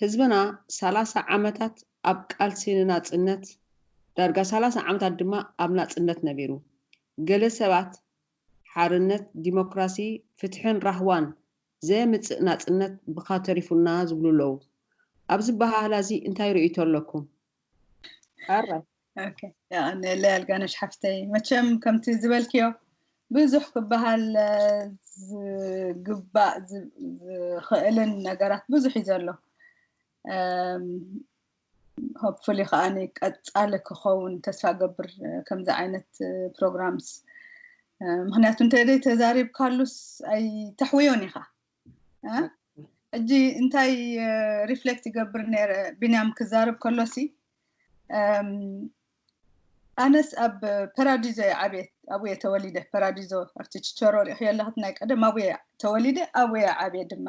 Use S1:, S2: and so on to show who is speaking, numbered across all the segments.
S1: ህዝብና ሰላሳ ዓመታት ኣብ ቃልሲ ንናጽነት፣ ዳርጋ ሰላሳ ዓመታት ድማ ኣብ ናጽነት ነቢሩ። ገለ ሰባት ሓርነት፣ ዲሞክራሲ፣ ፍትሕን ራህዋን ዘየምጽእ ናጽነት ብኻ ተሪፉና ዝብሉ ኣለዉ። ኣብዚ ኣበሃህላ'ዚ እንታይ ርእይቶ ኣለኩም? ኣራይ።
S2: ንለ ኣልጋነሽ ሓፍተይ መቸም ከምቲ ዝበልክዮ ብዙሕ ክበሃል ዝግባእ ዝኽእልን ነገራት ብዙሕ እዩ ዘሎ ሆፕፉሊ ከዓ ቀፃሊ ክኸውን ተስፋ ገብር ከምዚ ዓይነት ፕሮግራምስ ምክንያቱ እንተዘይ ተዛሪብካሉስ ኣይተሕውዮን ኢኻ ሕጂ እንታይ ሪፍሌክት ይገብር ነረ ቢንያም ክዛርብ ከሎሲ ኣነስ ኣብ ፐራዲዞ እየ ዓብየት ኣብየ ተወሊደ ፐራዲዞ ኣብቲ ችቸሮ ሪእክዮ ኣለክት ናይ ቀደም ኣብየ ተወሊደ ኣብየ ዓብየ ድማ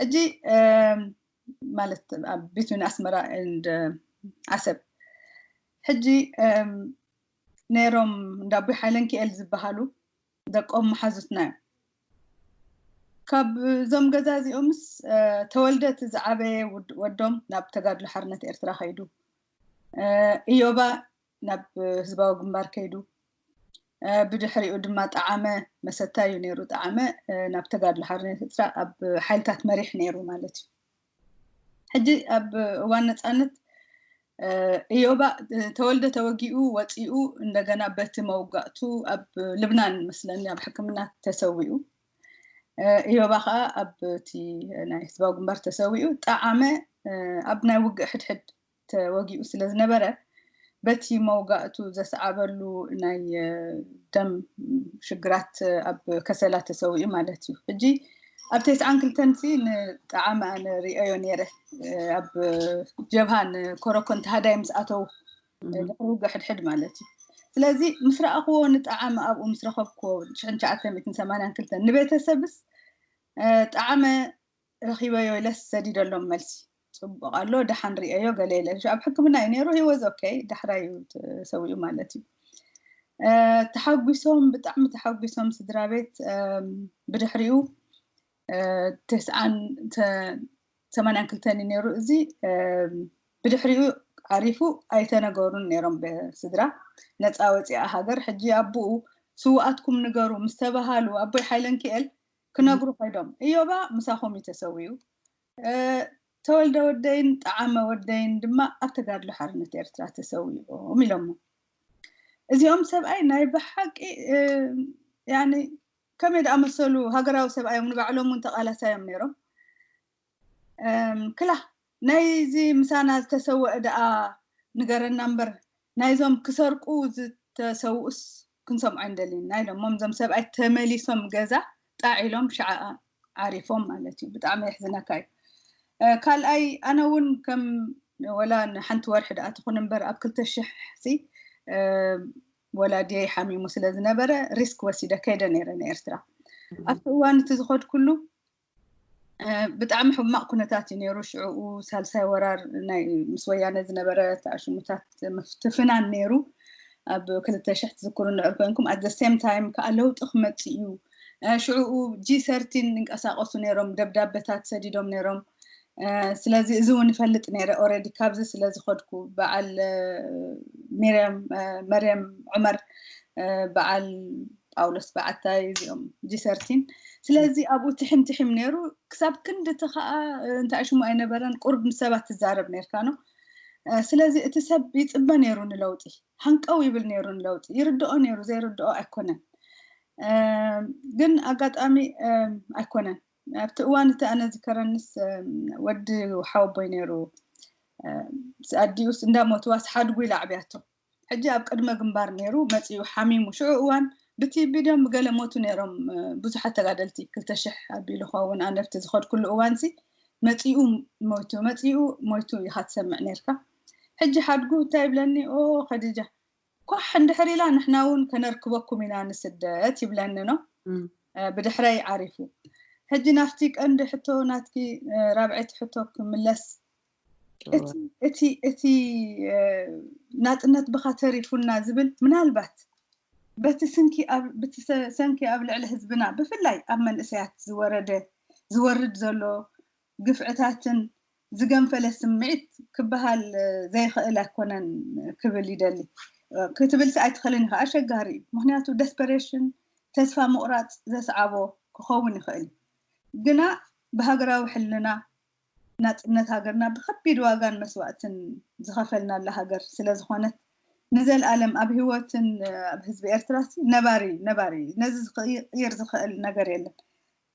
S2: ሕጂ ማለት ኣብ ቢትዊን ኣስመራ ንድ ዓሰብ ሕጂ ነይሮም እንዳቦይ ሓይለንኪኤል ዝበሃሉ ደቆም መሓዙትናዮም ካብ እዞም ገዛ እዚኦምስ ተወልደ እቲ ዝዓበየ ወዶም ናብ ተጋድሎ ሓርነት ኤርትራ ከይዱ እዮባ ናብ ህዝባዊ ግንባር ከይዱ ብድሕሪኡ ድማ ጣዓመ መሰታ እዩ ነይሩ ጣዓመ ናብ ተጋድሎ ሓርነት ኤርትራ ኣብ ሓይልታት መሪሕ ነይሩ ማለት እዩ ሕጂ ኣብ እዋን ነጻነት እዮባ ተወልደ ተወጊኡ ወጺኡ እንደገና በቲ መውጋእቱ ኣብ ልብናን መስለኒ ኣብ ሕክምና ተሰዊኡ እዮባ ከዓ ኣብቲ ናይ ህዝባዊ ግንባር ተሰዊኡ ጠዓመ ኣብ ናይ ውግእ ሕድሕድ ተወጊኡ ስለ ዝነበረ፣ በቲ መውጋእቱ ዘስዓበሉ ናይ ደም ሽግራት ኣብ ከሰላ ተሰዊኡ ማለት እዩ። ሕጂ ኣብ ቴስዓን ክልተን ሲ ንጠዓመ ኣነ ርእየዮ ነይረ፣ ኣብ ጀብሃ ንኮረኮን ተሃዳይ ምስ ኣተዉ ድሕሪ ውግእ ሕድሕድ ማለት እዩ። ስለዚ ምስ ረኣኽዎ ንጠዓመ ኣብኡ ምስ ረኸብክዎ ሽሕን ትሽዓተ ሚእትን ሰማንያን ክልተን ንቤተሰብስ ጠዓመ ረኪበዮ ኢለስ ሰዲደሎም መልሲ ፅቡቅ ኣሎ ደሓን ሪኤዮ ገለ ኢለ ኣብ ሕክምና እዩ ነይሩ ሂወዝ ኦኬ ዳሕራይ እዩ ተሰዊኡ ማለት እዩ ተሓጒሶም ብጣዕሚ ተሓጒሶም ስድራ ቤት ብድሕሪኡ ተስዓን ሰማንያን ክልተን እዩ ነይሩ እዚ ብድሕሪኡ ዓሪፉ ኣይተነገሩን ነይሮም ብስድራ ነፃ ወፂኣ ሃገር ሕጂ ኣቦኡ ስውኣትኩም ንገሩ ምስ ተባሃሉ ኣቦይ ሓይለንኪኤል ክነግሩ ከይዶም እዮባ ምሳኹም እዩ ተሰዊኡ፣ ተወልደ ወደይን ጠዓመ ወደይን ድማ ኣብ ተጋድሎ ሓርነት ኤርትራ ተሰዊኦም ኢሎሞ። እዚኦም ሰብኣይ ናይ ብሓቂ ያኒ ከመይ ድኣመሰሉ ሃገራዊ ሰብኣይ እዮም ንባዕሎም እውን ተቓላሳይ እዮም ነይሮም። ክላ ናይ እዚ ምሳና ዝተሰወኣ ደኣ ንገረና እምበር ናይዞም ክሰርቁ ዝተሰውኡስ ክንሰምዖ ኣይንደልን ኢና ኢሎሞም እዞም ሰብኣይ ተመሊሶም ገዛ ጣዕ ኢሎም ሽዓ ዓሪፎም ማለት እዩ ብጣዕሚ የሕዝነካ እዩ ካልኣይ ኣነ እውን ከም ወላ ንሓንቲ ወርሒ ደኣ ትኹን እምበር ኣብ ክልተ ሽሕሲ ወላድየይ ሓሚሙ ስለ ዝነበረ ሪስክ ወሲደ ከይደ ነይረ ንኤርትራ ኣብቲ እዋን እቲ ዝኸድኩሉ ብጣዕሚ ሕማቕ ኩነታት እዩ ነይሩ ሽዕኡ ሳልሳይ ወራር ናይ ምስ ወያነ ዝነበረ ተኣሽሙታት ምፍትፍናን ነይሩ ኣብ ክልተ ሽሕ ትዝክሩ እንድሕር ኮንኩም ኣት ዘ ሴም ታይም ከዓ ለውጢ ክመፅእ እዩ ሽዕኡ ጂ ሰርቲን ይንቀሳቀሱ ነይሮም ደብዳበታት ሰዲዶም ነይሮም ስለዚ እዚ እውን ይፈልጥ ነይረ ኦረዲ ካብዚ ስለ ዝኸድኩ በዓል ሚርያም መርያም ዑመር በዓል ጳውሎስ በዓታይ እዚኦም ጂሰርቲን ስለዚ ኣብኡ ትሕም ትሕም ነይሩ ክሳብ ክንድቲ ከዓ እንታይ ሽሙ ኣይነበረን ቁርብ ምስ ሰባት ትዛረብ ነርካ ኖ ስለዚ እቲ ሰብ ይፅበ ነይሩ ንለውጢ ሃንቀው ይብል ነይሩ ንለውጢ ይርድኦ ነይሩ ዘይርድኦ ኣይኮነን ግን ኣጋጣሚ ኣይኮነን ኣብቲ እዋን እቲ ኣነ ዝከረንስ ወዲ ሓወቦይ ነይሩ ኣዲኡስ እንዳሞትዋስ ሓድጉ ኢላ ኣዕብያቶ ሕጂ ኣብ ቅድመ ግንባር ነይሩ መፂኡ ሓሚሙ ሽዑ እዋን ብቲቢ ድዮም ብገለ ሞቱ ነይሮም ብዙሓት ተጋደልቲ ክልተ ሽሕ ኣቢሉ ኸውን ኣነብቲ ዝኸድኩሉ እዋንሲ መፂኡ ሞይቱ መፂኡ ሞይቱ ኢኻ ትሰምዕ ነርካ ሕጂ ሓድጉ እንታይ ይብለኒ ኦ ከዲጃ ኳሕ እንድሕር ኢላ ንሕና እውን ከነርክበኩም ኢና ንስደት ይብለኒ ኖ ብድሕረይ ዓሪፉ ሕጂ ናፍቲ ቀንዲ ሕቶ ናትኪ ራብዐይቲ ሕቶ ክምለስ እቲ እቲ ናጽነት ብኻ ተሪፉና ዝብል ምናልባት በቲ ስንኪ ብቲ ሰንኪ ኣብ ልዕሊ ህዝብና ብፍላይ ኣብ መንእሰያት ዝወረደ ዝወርድ ዘሎ ግፍዕታትን ዝገንፈለ ስምዒት ክበሃል ዘይኸእል ኣይኮነን ክብል ይደሊ። ክትብልሲ ኣይትኸልን ኢኻ፣ ኣሸጋሪ እዩ። ምኽንያቱ ደስፐሬሽን፣ ተስፋ ምቑራጽ፣ ዘስዓቦ ክኸውን ይኸእል እዩ። ግና ብሃገራዊ ሕልና ናጽነት ሃገርና ብከቢድ ዋጋን መስዋእትን ዝኸፈልናላ ሃገር ስለዝኾነት ንዘልኣለም ኣብ ህይወትን ኣብ ህዝቢ ኤርትራሲ ነባሪ ነባሪ እዩ። ነዚ ክቕይር ዝኸእል ነገር የለን።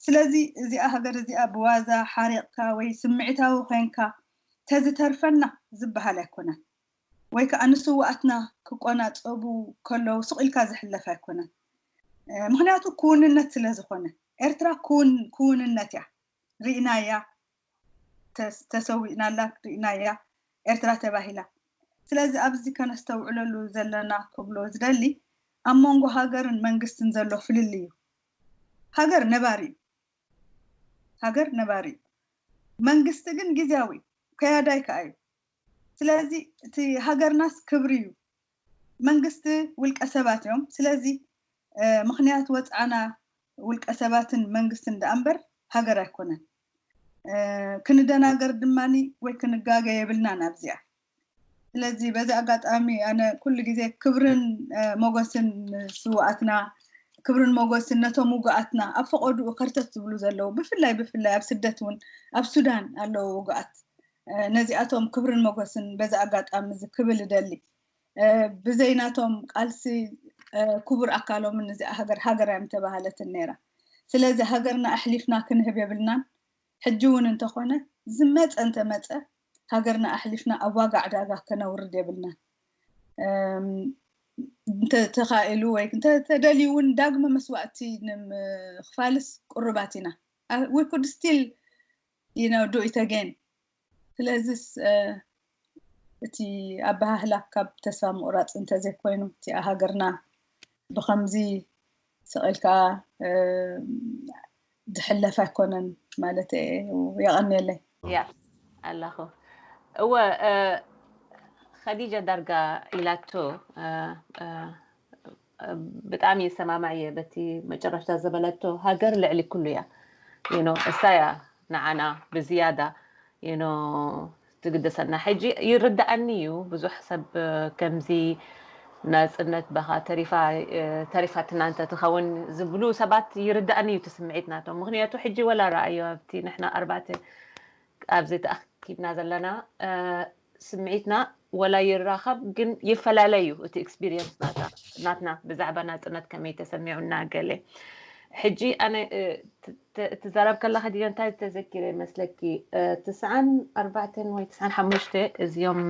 S2: ስለዚ እዚኣ ሃገር እዚኣ ብዋዛ ሓሪቕካ ወይ ስምዒታዊ ኮይንካ ተዝተርፈና ዝብሃል ኣይኮነን ወይ ከኣ ንስውኣትና ክቆናጸቡ ከለዉ ስቕ ኢልካ ዝሕለፍ ኣይኮነን ምኽንያቱ ክውንነት ስለ ዝኾነ ኤርትራ ክውን ክውንነት እያ ርኢናያ ተሰዊእናላ ርኢናያ ኤርትራ ተባሂላ ስለዚ ኣብዚ ከነስተውዕለሉ ዘለና ክብሎ ዝደሊ ኣብ መንጎ ሃገርን መንግስትን ዘሎ ፍልልይ እዩ ሃገር ነባሪ እዩ ሃገር ነባሪ እዩ መንግስቲ ግን ግዝያዊ እዩ ከያዳይ ከኣ እዩ ስለዚ እቲ ሃገርናስ ክብሪ እዩ መንግስቲ ውልቀ ሰባት እዮም ስለዚ ምኽንያት ወጽዓና ውልቀ ሰባትን መንግስትን ደኣ እምበር ሃገር ኣይኮነን ክንደናገር ድማኒ ወይ ክንጋገ የብልናን ኣብዚኣ ስለዚ በዚ ኣጋጣሚ ኣነ ኩሉ ግዜ ክብርን ሞጎስን ንስውኣትና ክብርን ሞጎስን ነቶም ውጉኣትና ኣብ ፈቐድኡ ከርተት ዝብሉ ዘለዉ ብፍላይ ብፍላይ ኣብ ስደት እውን ኣብ ሱዳን ኣለዉ ውጉኣት ነዚኣቶም ክብርን ሞጎስን በዚ ኣጋጣሚ እዚ ክብል እደሊ ብዘይ ናቶም ቃልሲ ክቡር ኣካሎምን እዚኣ ሃገር ሃገር ኣይምተባሃለትን ነይራ ስለዚ ሃገርና ኣሕሊፍና ክንህብ የብልናን ሕጂ ውን እንተኾነ ዝመጸ እንተመጸ ሃገርና ኣሕሊፍና ኣብ ዋጋ ዕዳጋ ከነውርድ የብልናን። እንተ ተኻኢሉ ወይ እንተ ተደልዩ ውን ዳግመ መስዋእቲ ንምኽፋልስ ቅሩባት ኢና። We could still you know do it again ስለዚስ እቲ ኣበሃህላ ካብ ተስፋ ምቑራፅ እንተዘይኮይኑ እቲኣ ሃገርና ብኸምዚ ስቕ ኢልካ ዝሕለፍ ኣይኮነን ማለት የቐንየለይ ያ
S3: ኣላኹ እወ ኸዲጃ ዳርጋ ኢላቶ ብጣዕሚ ይሰማማዕ እየ በቲ መጨረሽታ ዝበለቶ ሃገር ልዕሊ ኩሉ እያ ዩኖ እሳ እያ ንዓና ብዝያዳ ዩኖ ትግደሰና ሕጂ ይርዳእኒ እዩ ብዙሕ ሰብ ከምዚ ናፅነት በኻ ተሪፋ ተሪፋ ትናንተ ትኸውን ዝብሉ ሰባት ይርዳእኒ እዩ ትስምዒት ናቶም ምክንያቱ ሕጂ ወላ ረኣዮ ኣብቲ ንሕና ኣርባዕተ ኣብዚ ተኣኪብና ዘለና ስምዒትና ወላ ይራኸብ ግን ይፈላለ እዩ እቲ ኤክስፒሪየንስ ናትና ብዛዕባ ናፅነት ከመይ ተሰሚዑና ገለ ሕጂ ኣነ ትዛረብ ከለካ ድዮ እንታይ ተዘኪረ መስለኪ ትስዓን ኣርባዕተን ወይ ትስዓን ሓሙሽተ እዚኦም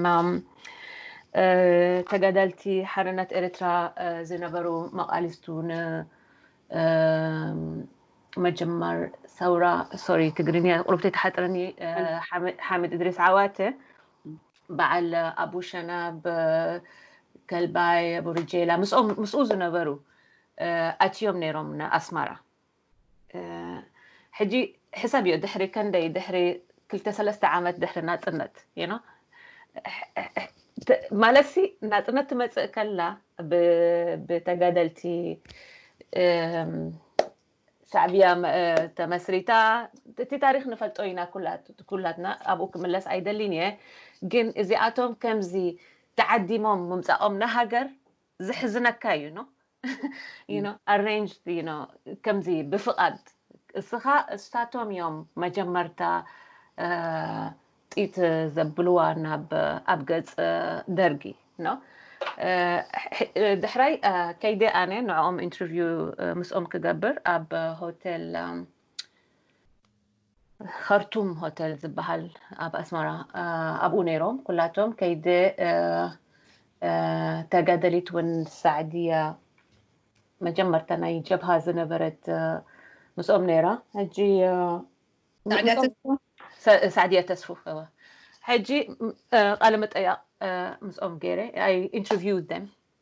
S3: ተጋዳልቲ ሓርነት ኤርትራ ዝነበሩ መቃሊስቱ ን መጀመር ሰውራ ሶሪ ትግርኛ ቁርብተይ ተሓጥረኒ ሓምድ እድሪስ ዓዋተ በዓል ኣቡ ሸናብ ከልባይ ኣቡ ርጀላ ምስኡ ዝነበሩ ኣትዮም ነይሮም ንኣስማራ ሕጂ ሕሰብ እዮ ድሕሪ ከንደይ ድሕሪ ክልተ ሰለስተ ዓመት ድሕሪ ናፅነት ማለትሲ ናፅነት ትመፅእ ከላ ብተጋደልቲ ሻዕብያ ተመስሪታ እቲ ታሪክ ንፈልጦ ኢና ኩላትና ኣብኡ ክምለስ ኣይደሊን እየ ግን እዚኣቶም ከምዚ ተዓዲሞም ምምፃኦም ንሃገር ዘሕዝነካ እዩ ኖ you know arranged you know ከምዚ ብፍቓድ እስኻ እሳቶም እዮም መጀመርታ ጢት ዘብልዋ ናብ ኣብ ገጽ ደርጊ ኖ ድሕራይ ከይደ ኣነ ንዕኦም ኢንተርቪው ምስኦም ክገብር ኣብ ሆቴል ኸርቱም ሆተል ዝበሃል ኣብ ኣስመራ ኣብኡ ነይሮም ኩላቶም ከይዲ ተጋደሊት ውን ሳዕድያ መጀመርታ ናይ ጀብሃ ዝነበረት ምስኦም ነይራ ሕጂ ሳዕድያ ተስፉ ሕጂ ቃለ መጠያቕ ምስኦም ገይረ ኣይ ኢንተርቪው ደም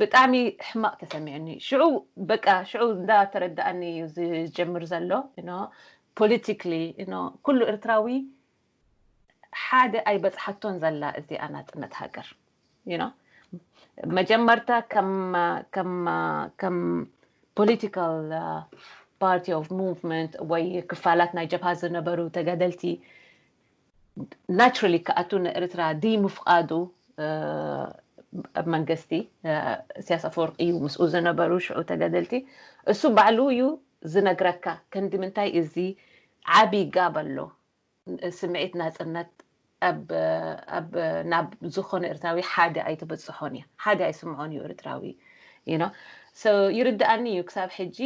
S3: ብጣዕሚ ሕማቅ ተሰሚዑኒ ሽዑ በቃ ሽዑ እንዳ ተረዳኣኒ እዩ ዝጀምር ዘሎ ዩኖ ፖለቲክሊ ዩኖ ኩሉ ኤርትራዊ ሓደ ኣይበጽሓቶን ዘላ እዚኣ ናጽነት ሃገር ዩኖ መጀመርታ ከም ከም ከም ፖለቲካል ፓርቲ ኦፍ ሙቭመንት ወይ ክፋላት ናይ ጀብሃ ዝነበሩ ተጋደልቲ ናቸራሊ ክኣቱ ንኤርትራ ድይምፍቃዱ ኣብ መንገስቲ እስያስ ኣፈወርቂ እዩ ምስኡ ዝነበሩ ሽዑ ተጋደልቲ እሱ ባዕሉ እዩ ዝነግረካ ከንዲ ምንታይ እዚ ዓቢ ጋብ ኣሎ ስምዒት ናጽነት ኣብ ናብ ዝኾነ ኤርትራዊ ሓደ ኣይትብጽሖን እያ ሓደ ኣይስምዖን እዩ ኤርትራዊ you know so ይርድኣኒ እዩ ክሳብ ሕጂ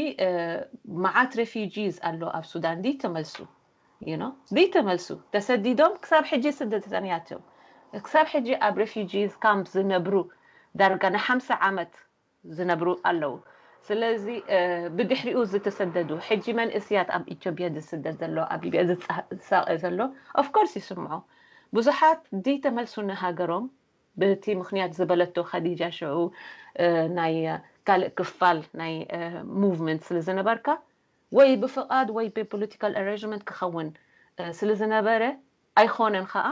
S3: መዓት ሬፊጂስ ኣሎ ኣብ ሱዳን ድይተመልሱ you know ዘይተመልሱ ተሰዲዶም ክሳብ ሕጂ ስደተኛቸው ክሳብ ሕጂ ኣብ ሬፊጂስ ካምፕ ዝነብሩ ዳርጋ ንሓምሳ ዓመት ዝነብሩ ኣለዉ ስለዚ ብድሕሪኡ ዝተሰደዱ ሕጂ መንእስያት ኣብ ኢትዮጵያ ዝስደድ ዘሎ ኣብ ሊብያ ዝሳቐ ዘሎ ኦፍኮርስ ይስምዖ ብዙሓት ዘይተመልሱ ንሃገሮም በቲ ምክንያት ዝበለቶ ከዲጃ ሽዑ ናይ ካልእ ክፋል ናይ ሙቭመንት ስለ ዝነበርካ ወይ ብፍቓድ ወይ ብፖለቲካል ኣሬንጅመንት ክኸውን ስለ ዝነበረ ኣይኾነን ኸኣ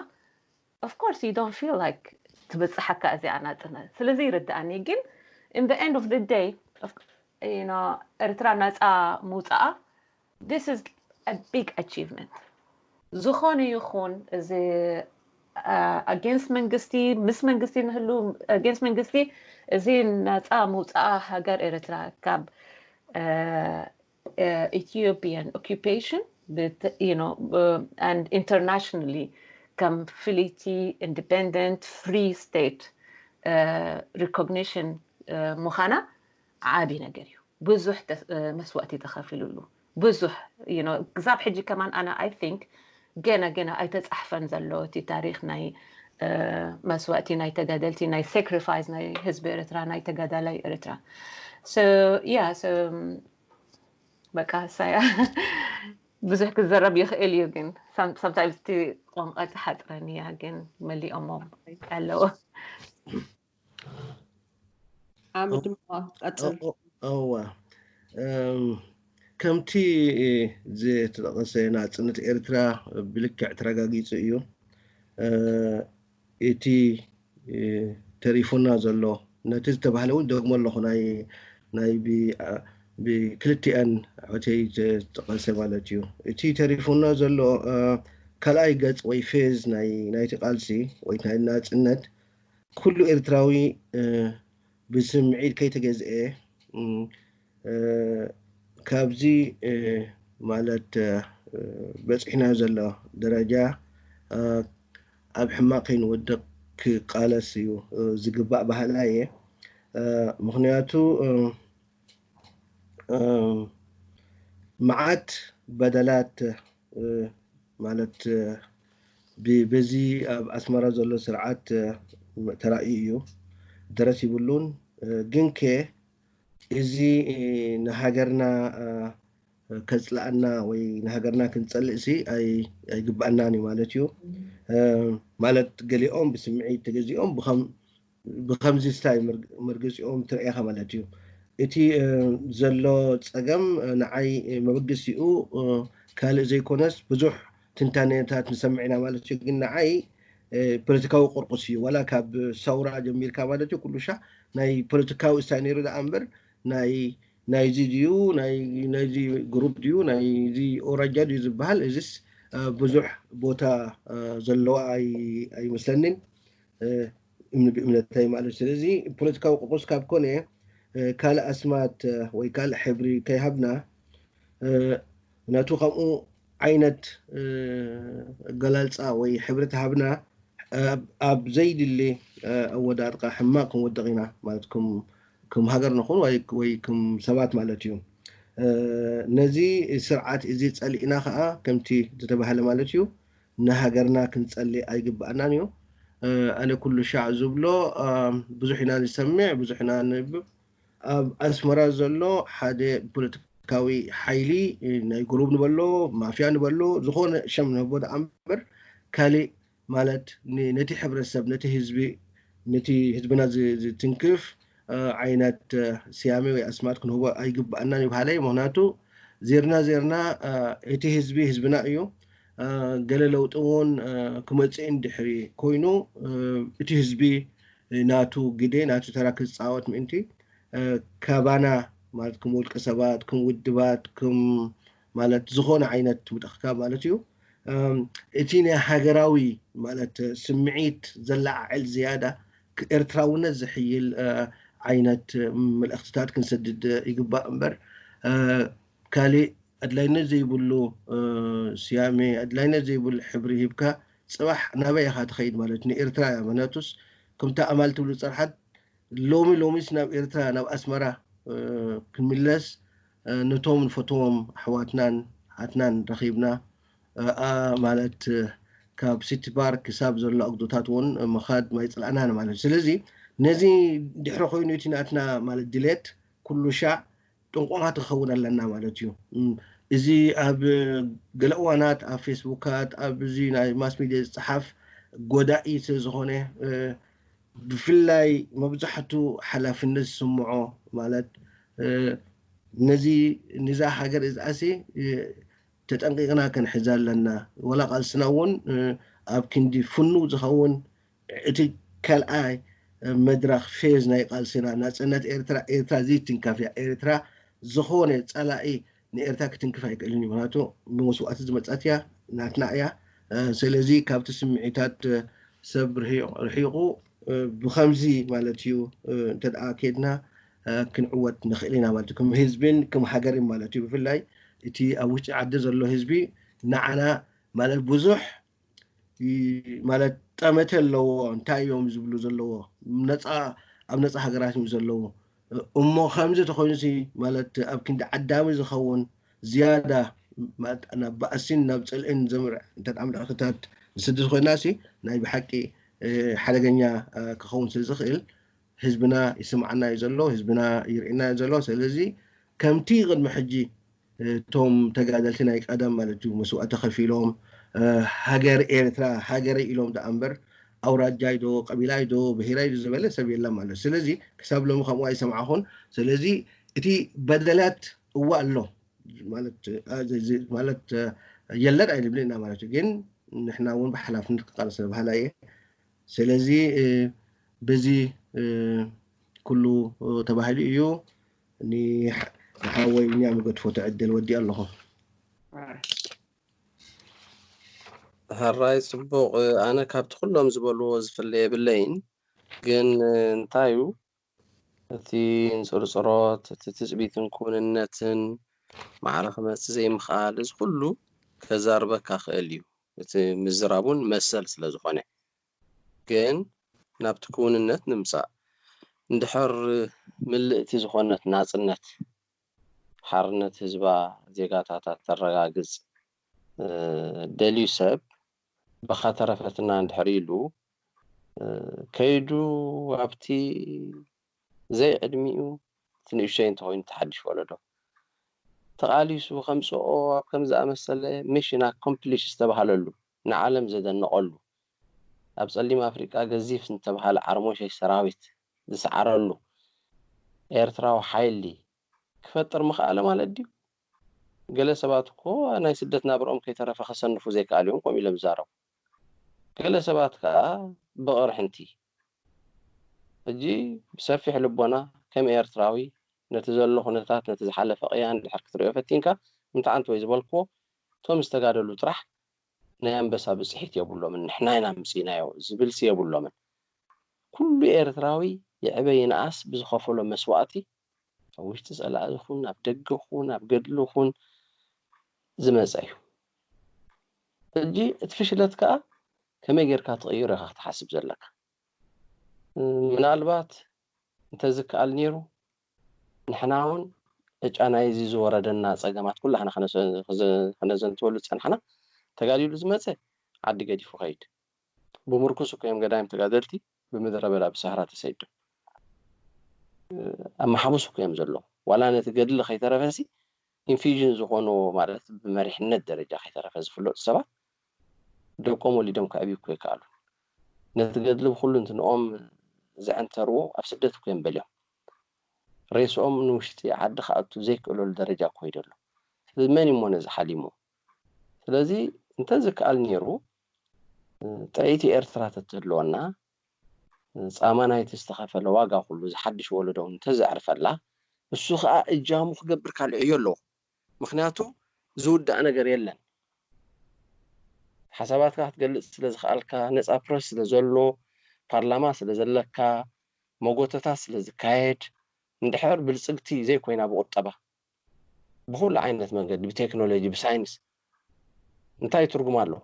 S3: ኦፍ ኮርስ ዩ ዶንት ፊል ላይክ ትብጽሓካ እዚኣ ናጽነት ስለዚ ይርድኣኒ ግን ኢን ዘ ኤንድ ኦፍ ዘ ደይ ዩ ኖ ኤርትራ ናጻ ምውጻኣ ዚስ ኢዝ ቢግ ኣቺቭመንት ዝኾነ ይኹን እዚ ኣጌንስት መንግስቲ ምስ መንግስቲ ንህሉ ኣጌንስት መንግስቲ እዚ ናፃ ምውፃኣ ሃገር ኤርትራ ካብ ኢትዮጵያን ኦኪፔሽን ኢንተርናሽናሊ ከም ፍልይቲ ኢንዲፐንደንት ፍሪ ስቴት ሪኮግኒሽን ምዃና ዓቢ ነገር እዩ ብዙሕ መስዋእቲ ተኸፊሉሉ ብዙሕ you know ክሳብ ሕጂ ከማን ኣነ i think ገና ገና ኣይተጻሕፈን ዘሎ እቲ ታሪኽ ናይ መስዋእቲ ናይ ተጋደልቲ ናይ ሳክሪፋይስ ናይ ህዝቢ ኤርትራ ናይ ተጋዳላይ ኤርትራ so yeah so በቃ ሳያ ብዙሕ ክዘረብ ይኽእል እዩ ግን ሳምታይምስ እቲ ቋንቋ ትሓጥረን እያ ግን መሊኦሞ ኣለዎ
S1: ሓምድ ድማ ቀጽል ኦ- ኦ- እወ እም፣
S4: ከምቲ ዝተጠቐሰ ናጽነት ኤርትራ ብልክዕ ተረጋጊጹ እዩ እ፣ እቲ እ፣ ተሪፉና ዘሎ ነቲ ዝተባህለ እውን ደግሞ ኣለኹ ናይ ናይ ብ- አ- ብክልቲኣን ሆቴይ ዝተጠቐሰ ማለት እዩ እቲ ተሪፉና ዘሎ እ፣ ካልኣይ ገጽ ወይ ፌዝ ናይ ናይቲ ቃልሲ ወይ ናይ ናጽነት ኩሉ ኤርትራዊ ብስምዒት ከይተገዝኤ ካብዚ ማለት በጺሕናዮ ዘሎ ደረጃ ኣብ ሕማቕ ከይንወድቕ ክቃለስ እዩ ዝግባእ በሃላይ እየ። ምኽንያቱ መዓት በደላት ማለት በዚ ኣብ ኣስመራ ዘሎ ስርዓት ተራእዩ እዩ ደረስ ይብሉን ግንከ እዚ ንሃገርና ከጽልኣና ወይ ንሃገርና ክንጸልእሲ ኣይግብኣናን እዩ ማለት እዩ ማለት ገሊኦም ብስምዒት ተገዚኦም ብከም ብከምዚ ስታይ ምርግጺኦም ትርኤካ ማለት እዩ እቲ ዘሎ ጸገም ንዓይ መበግሲኡ ካልእ ዘይኮነስ ብዙሕ ትንታኔታት ንሰምዕ ኢና ማለት እዩ ግን ንዓይ ፖለቲካዊ ቁርቁስ እዩ ዋላ ካብ ሰውራ ጀሚርካ ማለት እዩ ኩሉሻ ናይ ፖለቲካዊ እስታይ ነይሩ ደኣ እምበር ናይ ናይዚ ድዩ ናይዚ ግሩፕ ድዩ ናይዚ ኦራጃ ድዩ ዝበሃል እዚስ ብዙሕ ቦታ ዘለዋ ኣይመስለኒን እምኒ ብእምነተይ ማለት ስለዚ ፖለቲካዊ ቁቁስ ካብ ኮነ ካልእ ኣስማት ወይ ካልእ ሕብሪ ከይሃብና ናቱ ከምኡ ዓይነት ኣገላልፃ ወይ ሕብሪ ተሃብና ኣብ ዘይድሊ ኣወዳድቃ ሕማቅ ክንወድቕ ኢና ማለት ከም ሃገር ንኹን ወይ ከም ሰባት ማለት እዩ ነዚ ስርዓት እዚ ፀሊእና ከዓ ከምቲ ዝተባሃለ ማለት እዩ ንሃገርና ክንጸሊ ኣይግብኣናን ኢዩ። ኣነ ኩሉ ሻዕ ዝብሎ ብዙሕ ኢና ንሰምዕ ብዙሕ ኢና ነንብብ ኣብ ኣስመራ ዘሎ ሓደ ፖለቲካዊ ሓይሊ ናይ ጉሩብ ንበሎ ማፍያ ንበሎ ዝኾነ ሸም ንህቦ ደኣ እምበር ካልእ ማለት ነቲ ሕብረተሰብ ነቲ ህዝቢ ነቲ ህዝብና ዝትንክፍ ዓይነት ስያሜ ወይ ኣስማት ክንህቦ ኣይግባኣናን እዩ በሃላይ ምክንያቱ ዜርና ዜርና እቲ ህዝቢ ህዝብና እዩ ገለ ለውጢ እውን ክመፅእ እንድሕሪ ኮይኑ እቲ ህዝቢ ናቱ ግደ ናቱ ተራ ክፃወት ምእንቲ ካባና ማለት ከም ውልቀ ሰባት ከም ውድባት ከም ማለት ዝኾነ ዓይነት ውድቕካ ማለት እዩ። እቲ ናይ ሃገራዊ ማለት ስምዒት ዘለዓዕል ዝያዳ ኤርትራውነት ዝሕይል ዓይነት መልእኽትታት ክንሰድድ ይግባእ እምበር ካሊእ ኣድላይነት ዘይብሉ ስያሜ ኣድላይነት ዘይብሉ ሕብሪ ሂብካ ጽባሕ ናበይ ኢኻ ትኸይድ ማለት ንኤርትራ እያ ምክንያቱስ ከምታ ኣማል ትብሉ ጸርሓት ሎሚ ሎሚስ ናብ ኤርትራ ናብ ኣስመራ ክንምለስ ነቶም ንፈትዎም ኣሕዋትናን ኣሓትናን ረኺብና እ ማለት ካብ ሲቲ ባር ክሳብ ዘሎ ኣጉዶታት እውን ምኻድ ማይፅላእናን ማለት ስለዚ ነዚ ድሕሪ ኮይኑ እቲ ናትና ማለት ድሌት ኩሉ ሻዕ ጥንቁቓት ክኸውን ኣለና ማለት እዩ እዚ ኣብ ገለ እዋናት ኣብ ፌስቡካት ኣብ እዚ ናይ ማስ ሚድያ ዝፀሓፍ ጎዳኢ ስለዝኾነ ብፍላይ መብዛሕቱ ሓላፍነት ዝስምዖ ማለት ነዚ ንዛ ሃገር እዝኣሲ ተጠንቂቕና ክንሕዛ ኣለና ወላ ቃልስና እውን ኣብ ክንዲ ፍኑው ዝኸውን እቲ ካልኣይ መድረኽ ፌዝ ናይ ቃልስና ናጽነት ኤርትራ ኤርትራ ዘይትንከፍ እያ ኤርትራ ዝኾነ ጸላኢ ንኤርትራ ክትንክፍ ኣይክእልን እዩ ምክንያቱ ብመስዋእቲ ዝመጸት እያ ናትና እያ ስለዚ ካብቲ ስምዒታት ሰብ ርሒቑ ብከምዚ ማለት እዩ እንተ ከድና ክንዕወት ንኽእል ኢና ማለት እዩ ከም ህዝብን ከም ሃገርን ማለት እዩ ብፍላይ እቲ ኣብ ውሽጢ ዓዲ ዘሎ ህዝቢ ንዓና ማለት ብዙሕ ማለት ጠመተ ኣለዎ እንታይ እዮም ዝብሉ ዘለዎ ነፃ ኣብ ነፃ ሃገራት እዮም ዘለዉ እሞ ከምዚ ተኮይኑሲ ማለት ኣብ ክንዲ ዓዳሚ ዝኸውን ዝያዳ ናብ ባእሲን ናብ ፅልእን ዘምርዕ እንተ ምልእክታት ዝስድድ ኮይናሲ ናይ ብሓቂ ሓደገኛ ክኸውን ስለ ዝኽእል ህዝብና ይስምዓና እዩ ዘሎ ህዝብና ይርእየና እዩ ዘሎ ሰለዚ ከምቲ ቅድሚ ሕጂ እቶም ተጋደልቲ ናይ ቀደም ማለት እዩ መስዋእቲ ከፊሎም ሃገር ኤርትራ ሃገረይ ኢሎም ደኣ እምበር ኣውራጃይ ዶ ቀቢላይ ዶ ብሄራይ ዶ ዝበለ ሰብ የለን ማለት እዩ ስለዚ ክሳብ ሎሚ ከምኡ ኣይሰምዓኹን ስለዚ እቲ በደላት እወ ኣሎ ማለት የለን ኣይንብልን ኢና ማለት እዩ ግን ንሕና እውን ብሓላፍነት ክቃለስ ባህላ እየ ስለዚ በዚ ኩሉ ተባሂሉ እዩ ንሓወይ ቢንያም ይገድፎ ትዕድል ወዲኣ ኣለኹ።
S5: ሐራይ ጽቡቅ ኣነ ካብቲ ኩሎም ዝበልዎ ዝፍለ የብለይን ግን እንታዩ እቲ እንጽርጽሮት፣ እቲ ትጽቢትን ክውንነትን፣ ማዕረ ክመጽእ ዘይምኽኣል፣ እዚ ኩሉ ከዛርበካ ክእል እዩ፣ እቲ ምዝራብ እውን መሰል ስለ ዝኾነ። ግን ናብቲ ክውንነት ንምጻእ፣ እንድሕር ምልእቲ ዝኾነት ናጽነት፣ ሓርነት ህዝባ ዜጋታታ እተረጋግጽ ደልዩ ሰብ እባ ተረፈትና እንድሕር ኢሉ ከይዱ ኣብቲ ዘይ ዕድሚኡ እቲ ንእሽተይ እንተኾይኑ እቲ ሓድሽ ወለዶ ተቓሊሱ ከምጽኦ ኣብ ከም ዝኣመሰለ ሚሽን ኣኮምፕሊሽ ዝተባህለሉ ንዓለም ዘደነቐሉ ኣብ ጸሊም ኣፍሪቃ ገዚፍ ዝተባህለ ዓርሞሸሽ ሰራዊት ዝሰዓረሉ ኤርትራዊ ሓይሊ ክፈጥር ምኸኣለ ማለት ድዩ? ገለ ሰባት እኮ ናይ ስደት ናብርኦም ከይተረፈ ከሰንፉ ዘይከኣል እዮም ከምኡ ኢሎም ዝዛረቡ። ገለ ሰባት ከኣ ብቕርሕንቲ። ሕጂ ብሰፊሕ ልቦና ከም ኤርትራዊ ነቲ ዘሎ ኩነታት ነቲ ዝሓለፈ ቅያ እንድሕር ክትርእዮ ፈቲንካ እንተዓንት ወይ ዝበልክዎ እቶም ዝተጋደሉ ጥራሕ ናይ ኣንበሳ ብጽሒት የብሎምን ንሕና ኢና ኣምጺእናዮ ዝብልሲ የብሎምን ኩሉ ኤርትራዊ ይዕበ ይንኣስ ብዝኸፈሎ መስዋእቲ ኣብ ውሽጢ ጸላኢ ይኹን ኣብ ደገ ይኹን ኣብ ገድሊ ይኹን ዝመጸ እዩ ሕጂ እቲ ፍሽለት ከኣ ከመይ ጌርካ ትቕይሮ ኢኻ ክትሓስብ ዘለካ ምናልባት እንተዝከኣል ነይሩ ንሕናውን ዕጫ ናይዚ ዝወረደና ጸገማት ኩላህና ከነዘንትወሉ ዝጸናሕና፣ ተጋዲሉ ዝመጸ ዓዲ ገዲፉ ይኸይድ ብምርኩስ እኮ እዮም ገዳይም ተጋደልቲ ብምድረ በዳ ብሳህራ ተሰይዶም ኣብ መሓቡስ እኮ እዮም ዘለዉ። ዋላ ነቲ ገድሊ ከይተረፈሲ ኢንፊዥን ዝኾንዎ ማለት ብመሪሕነት ደረጃ ከይተረፈ ዝፍለጡ ሰባት ደቆም ወሊዶም ከዕብዩ እኮ ኣይከኣሉን። ነቲ ገድሊ ብኹሉንትንኦም ዘዐንተርዎ ኣብ ስደት እኮ እዮም በልዮም። ሬስኦም ንውሽጢ ዓዲ ክኣቱ ዘይክእለሉ ደረጃ ኮይዱ ኣሎ ስለዚ መን እዩሞ ነዚ ሓሊሙ ስለዚ እንተዝከኣል ኔሩ ጥዕይቲ ኤርትራ ተትህልወና ጻማ ናይቲ ዝተኸፈለ ዋጋ ኩሉ ዝሓድሽ ወለዶ እንተዘዕርፈላ እሱ ከኣ እጃሙ ክገብር ካልዕ ዕዮ ኣለዎ። ምኽንያቱ ዝውዳእ ነገር የለን ሓሳባትካ ክትገልጽ ስለ ዝኸኣልካ ነጻ ፕረስ ስለ ዘሎ ፓርላማ ስለ ዘለካ መጎተታት ስለ ዝካየድ እንድሕር ብልጽግቲ ዘይኮይና ብቁጠባ ብኹሉ ዓይነት መንገዲ ብቴክኖሎጂ ብሳይንስ እንታይ ትርጉም ኣለዎ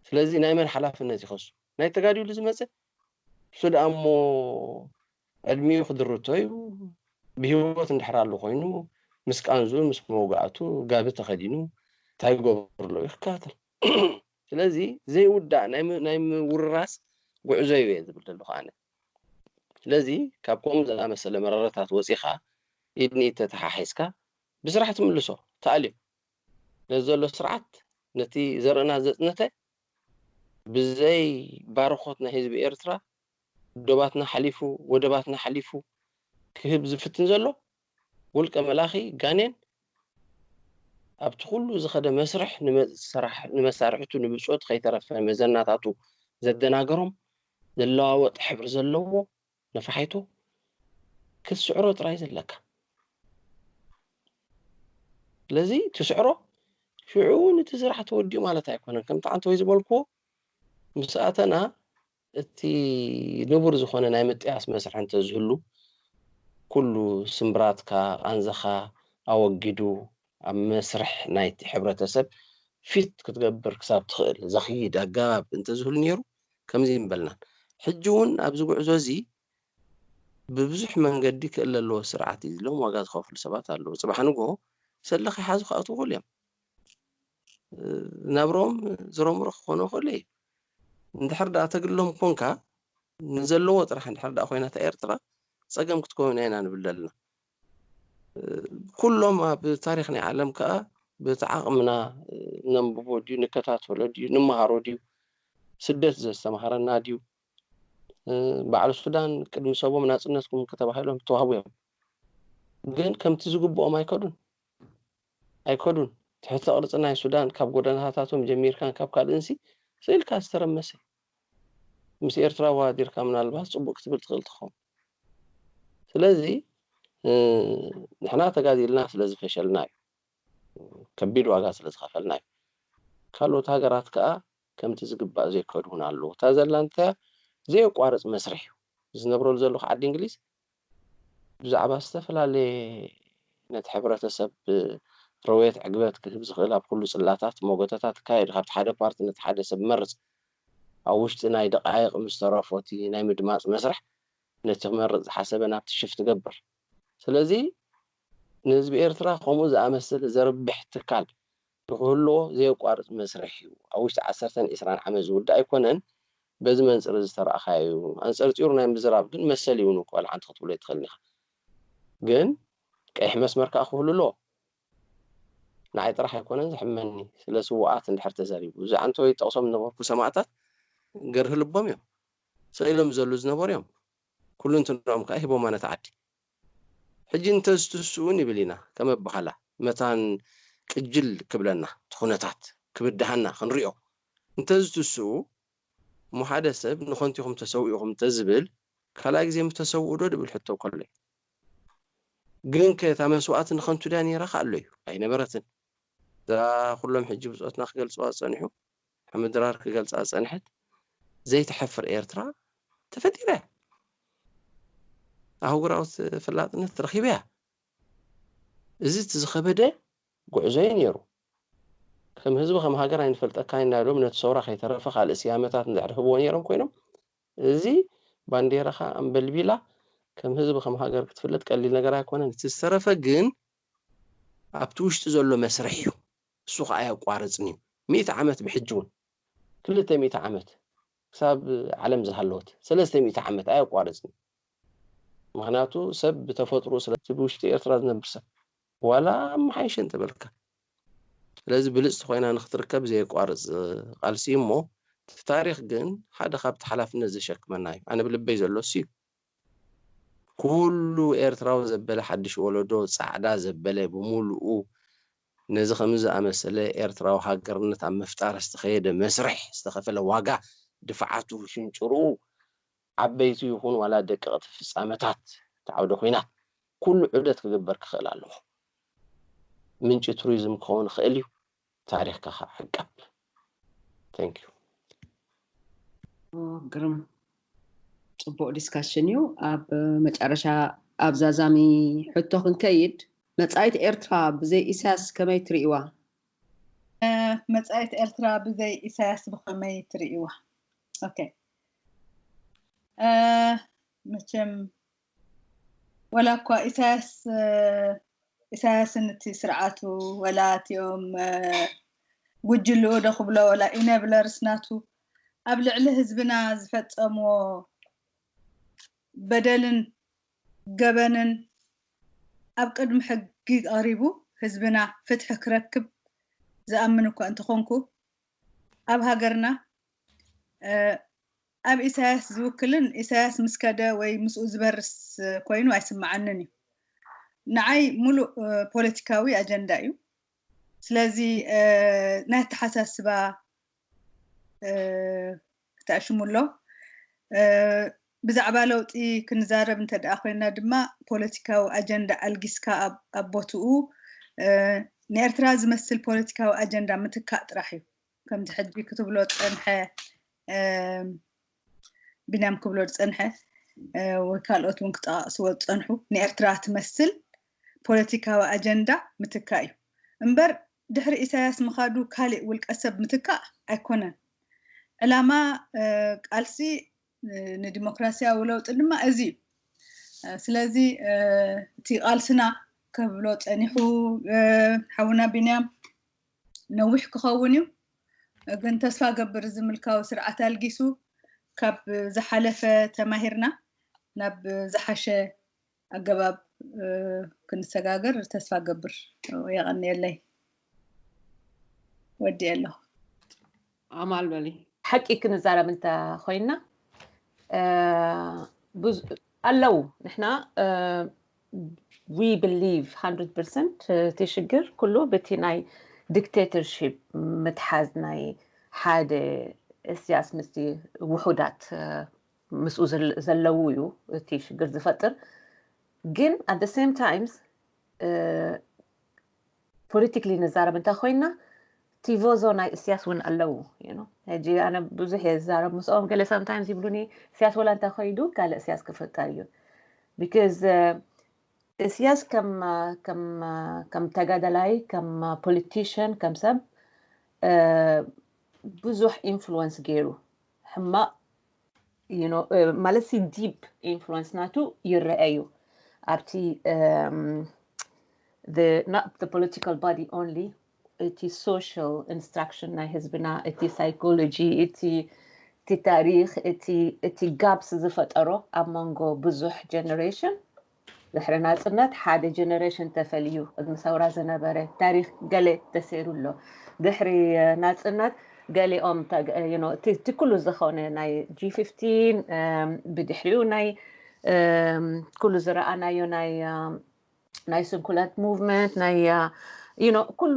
S5: ስለዚ ናይ መን ሓላፍነት ይኸሱ ናይ ተጋዲሉ ዝመጸ ንሱ ደኣ እሞ ዕድሚኡ ክድርቶ እዩ፣ ብህይወት እንድሕር ኣሉ ኮይኑ ምስ ቃንዝኡ ምስ መውጋእቱ ጋቢ ተኸዲኑ እንታይ ይገብርሎ እዩ ክከታተል ስለዚ ዘይውዳእ ናይ ናይ ምውርራስ ጉዕዞ እዩ ዝብል ዘለኹ ኣነ ስለዚ ካብ ከምኡ ዝኣመሰለ መረረታት ወጺኻ ኢድ ንኢድ ተተሓሒዝካ ብስራሕ ትምልሶ ተኣልዮ ነዚ ዘሎ ስርዓት ነቲ ዘርእና ዘጽነተ ብዘይ ባርኾት ናይ ህዝቢ ኤርትራ ዶባትና ሓሊፉ ወደባትና ሓሊፉ ክህብ ዝፍትን ዘሎ ውልቀ መላኺ ጋኔን ኣብቲ ኩሉ ዝኸደ መስርሕ ንመሳርሕቱ ንብጾቱ ከይተረፈ መዘናታቱ ዘደናገሮም ዝለዋወጥ ሕብሪ ዘለዎ ነፋሒቶ ክትስዕሮ ጥራይ ዘለካ ስለዚ ትስዕሮ ሽዑ እውን እቲ ስራሕ ተወዲኡ ማለት ኣይኮነን ከምቲ ዓንተ ወይ ዝበልክዎ ምስ ኣተና እቲ ንቡር ዝኾነ ናይ ምጥያስ መስርሕ እንተዝህሉ ኩሉ ስምብራትካ ቃንዛኻ ኣወጊዱ ኣብ መስርሕ ናይቲ ሕብረተሰብ ፊት ክትገብር ክሳብ ትኽእል ዘኽይድ ኣገባብ እንተዝህሉ ነይሩ ከምዚ ኣይምበልናን። ሕጂ እውን ኣብዚ ጉዕዞ እዚ ብብዙሕ መንገዲ ክእለ ኣለዎ ስርዓት እዩ ኢሎም ዋጋ ዝኸፍሉ ሰባት ኣለዉ። ጽባሕ ንግሆ ሰለ ከይሓዙ ክኣትዉ ይኽእሉ እዮም። ናብርኦም ዝረምሮ ክኾኖ ይኽእሉ እዩ። እንድሕር ደኣ ተግሎም ኮንካ ንዘለዎ ጥራሕ እንድሕር ደኣ ኮይና እታ ኤርትራ ጸገም ክትከውን ኢና ንብል ዘለና። ኩሎም ኣብ ታሪክ ናይ ዓለም ከኣ በቲ ዓቅምና ነንብቦ ድዩ ንከታተሎ ድዩ ንመሃሮ ድዩ ስደት ዘስተምሃረና ድዩ በዓል ሱዳን ቅድሚ ሰቦም ናጽነትኩም ከተባሂሎም ተዋህቡ እዮም ግን ከምቲ ዝግብኦም ኣይከዱን ኣይከዱን ትሕተ ቅርፂ ናይ ሱዳን ካብ ጎደናታቶም ጀሚርካን ካብ ካልእንሲ ስእልካ ዝተረመሰ ምስ ኤርትራ ዋዲርካ ምናልባት ፅቡቅ ክትብል ትኽእል ትኸውን ስለዚ ንሕና ተጋዲልና ስለ ዝፈሸልና እዩ ከቢድ ዋጋ ስለ ዝኸፈልና እዩ ካልኦት ሃገራት ከኣ ከምቲ ዝግባእ ዘይከድዉና ኣለዉ እታ ዘላ እንተያ ዘየቋርጽ መስርሕ እዩ ዝነብረሉ ዘለኹ ዓዲ እንግሊዝ ብዛዕባ ዝተፈላለየ ነቲ ሕብረተሰብ ረውየት ዕግበት ክህብ ዝኽእል ኣብ ኩሉ ጽላታት ሞገተታት ይካየድ ካብቲ ሓደ ፓርቲ ነቲ ሓደ ሰብ መርጽ ኣብ ውሽጢ ናይ ደቓይቕ ምስ ተረፎ እቲ ናይ ምድማጽ መስርሕ ነቲ ክመርጽ ዝሓሰበ ናብቲ ሽፍት ገብር። ስለዚ ንህዝቢ ኤርትራ ከምኡ ዝኣመሰለ ዘርብሕ ትካል ንክህልዎ ዘየቋርጽ መስርሕ እዩ። ኣብ ውሽጢ ዓሰርተን ዕስራን ዓመት ዝውዳእ ኣይኮነን። በዚ መንጽር እዚ ዝተራእኻዮ እዩ። ኣንጸርጺሩ ናይ ምዝራብ ግን መሰል እዩውን እኳ ወላ ሓንቲ ክትብሎ ኣይትኽእልን ኢኻ። ግን ቀይሕ መስመር ከኣ ክህሉ ኣለዎ። ንዓይ ጥራሕ ኣይኮነን ዘሕመኒ ስለ ስውኣት እንድሕር ተዘሪቡ እዚ ኣንቶይ ጠቅሶም ዝነበርኩ ሰማእታት ገርሂ ልቦም እዮም ሰኢሎም ዝዘሉ ዝነበሩ እዮም ኩሉንትንኦም ከኣ ሂቦማ ነታ ዓዲ ሕጂ እንተ ዝትስኡ ንብል ኢና ከም ኣባሃላ መታን ቅጅል ክብለና እቲ ኩነታት ክብድሃና ክንሪኦ እንተ ዝትስኡ እሞ ሓደ ሰብ ንከንቱ ኢኹም ተሰዊእኹም እንተ ዝብል ካልኣይ ግዜ ምተሰውኡ ዶ ድብል ሕቶ ከሎይ ግንከ እታ መስዋእቲ ንኸንቱ ድያ ነይራ ከኣሎዩ? ኣይነበረትን። እዛ ኩሎም ሕጂ ብጾትና ክገልጽዋ ዝጸንሑ፣ ሓመድ ድራር ክገልጻ ዝጸንሐት ዘይትሐፍር ኤርትራ ተፈጢራያ። ኣህጉራዊ ተፈላጥነት ረኺባያ። እዚ እቲ ዝኸበደ ጉዕዞዩ ነይሩ። ከም ህዝቢ ከም ሃገር ኣይንፈልጠካን ኢና ኢሎም ነቲ ሰውራ ከይተረፈ ካልእ ስያመታት እንድሕር ህብዎ ነይሮም ኮይኖም እዚ ባንዴራኻ ኣንበልቢላ ከም ህዝቢ ከም ሃገር ክትፍለጥ ቀሊል ነገር ኣይኮነን። እቲ ዝተረፈ ግን ኣብቲ ውሽጢ ዘሎ መስርሕ እዩ እሱ ኸኣ ኣየቋርጽን እዩ ሚእቲ ዓመት ብሕጂ ውን ክልተ ሚእቲ ዓመት ክሳብ ዓለም ዝሃለወት ሰለስተ ሚእቲ ዓመት ኣየቋርጽን እዩ ምኽንያቱ ሰብ ብተፈጥርኡ ስለ እቲ ብውሽጢ ኤርትራ ዝነብር ሰብ ዋላ ኣመሓይሸ እንተበልካ ስለዚ ብልጽቲ ኮይና ንክትርከብ ዘየቋርጽ ቃልሲ እዩ እሞ እቲ ታሪኽ ግን ሓደ ካብቲ ሓላፍነት ዘሸክመና እዩ ኣነ ብልበይ ዘሎ እሱ እዩ ኩሉ ኤርትራዊ ዘበለ ሓድሽ ወለዶ ጻዕዳ ዘበለ ብምሉኡ ነዚ ከምዚ ዝኣመሰለ ኤርትራዊ ሃገርነት ኣብ ምፍጣር ዝተኸየደ መስርሕ ዝተኸፈለ ዋጋ ድፍዓቱ ሽንጭርኡ ዓበይቲ ይኹን ዋላ ደቀቕቲ ፍጻመታት እቲ ዓውደ ኹናት ኩሉ ዑደት ክግበር ክኽእል ኣለዎ። ምንጪ ቱሪዝም ክኸውን ይኽእል እዩ፣ ታሪኽካ ከኣ ዕቀብ። Thank you።
S1: ግርም ጽቡቅ ዲስካሽን እዩ ኣብ መጨረሻ ኣብ ዛዛሚ ሕቶ ክንከይድ መጻኢት ኤርትራ ብዘይ ኢሳያስ ከመይ ትሪኢዋ? መጻኢት
S2: ኤርትራ ብዘይ ኢሳያስ ብኸመይ ትሪኢዋ? ኦኬ መቸም ወላ እኳ ኢሳያስ ኢሳያስን እቲ ስርዓቱ ወላ እቲኦም ጉጅልኡ ዶ ክብሎ ወላ ኢነብለርስ ናቱ ኣብ ልዕሊ ህዝብና ዝፈፀምዎ በደልን ገበንን ኣብ ቅድሚ ሕጊ ቀሪቡ ህዝብና ፍትሒ ክረክብ ዝኣምን እኳ እንተኾንኩ ኣብ ሃገርና ኣብ ኢሳያስ ዝውክልን ኢሳያስ ምስ ከደ ወይ ምስኡ ዝበርስ ኮይኑ ኣይስምዓንን እዩ። ንዓይ ሙሉእ ፖለቲካዊ ኣጀንዳ እዩ። ስለዚ ናይ ኣተሓሳስባ ክተዕሽሙ ኣሎ። ብዛዕባ ለውጢ ክንዛረብ እንተድኣ ኮይና ድማ ፖለቲካዊ ኣጀንዳ ኣልጊስካ ኣብ ቦትኡ ንኤርትራ ዝመስል ፖለቲካዊ ኣጀንዳ ምትካእ ጥራሕ እዩ። ከምቲ ሕጂ ክትብሎ ዝጸንሐ ቢንያም ክብሎ ዝጸንሐ ወይ ካልኦት እውን ክጠቓቕስዎ ዝጸንሑ ንኤርትራ ትመስል ፖለቲካዊ ኣጀንዳ ምትካእ እዩ እምበር ድሕሪ ኢሳያስ ምኻዱ ካሊእ ውልቀሰብ ምትካእ ኣይኮነን። ዕላማ ቃልሲ ንዲሞክራሲያዊ ለውጢ ድማ እዚ እዩ። ስለዚ እቲ ቃልስና ከብሎ ጸኒሑ ሓውና ቢንያም ነዊሕ ክኸውን እዩ። ግን ተስፋ ገብር እዚ ምልካዊ ስርዓት ኣልጊሱ ካብ ዝሓለፈ ተማሂርና ናብ ዝሓሸ ኣገባብ ክንሰጋገር ተስፋ ገብር የቀንየለይ ወዲኤ ኣለኹ
S1: ኣማል በሊ ሓቂ ክንዛረብ
S3: እንተ ኮይና ኣለው ንሕና ዊ ብሊቭ 100 ፐርሰንት እቲ ሽግር ኩሉ በቲ ናይ ዲክቴተርሺፕ ምትሓዝ ናይ ሓደ እስያስ ምስቲ ውሑዳት ምስኡ ዘለዉ እዩ እቲ ሽግር ዝፈጥር ግን ኣደ ሰም ታይምስ ፖለቲክሊ ንዛረብ እንታይ ኮይና ቲቮዞ ናይ እስያስ እውን ኣለዉ ሕጂ ኣነ ብዙሕ እየ ዝዛረብ ምስኦም ገለ ሳምታይምስ ይብሉኒ እስያስ ወላ እንታይ ኮይዱ ካለ እስያስ ክፍጠር እዩ ቢካዝ እስያስ ከም ተጋዳላይ ከም ፖለቲሽን ከም ሰብ ብዙሕ ኢንፍሉወንስ ገይሩ ሕማቅ ማለት ሲ ዲፕ ኢንፍሉንስ ናቱ ይረአ እዩ ኣብቲ ፖለቲካል ባዲ ኦንሊ እቲ ሶሻል ኢንስትራክሽን ናይ ህዝብና እቲ ሳይኮሎጂ እቲ ታሪክ እቲ ጋፕስ ዝፈጠሮ ኣብ መንጎ ብዙሕ ጀነሬሽን ድሕሪ ናጽነት ሓደ ጀነረሽን ተፈልዩ ቅድሚ ሰውራ ዝነበረ ታሪኽ ገለ ተሰይሩ ኣሎ ድሕሪ ናጽነት ገሊኦም እቲ እቲ ኩሉ ዝኾነ ናይ ጂ ፊፍቲን ብድሕሪኡ ናይ ኩሉ ዝረኣናዮ ናይ ናይ ስንኩላት ሙቭመንት ናይ ኩሉ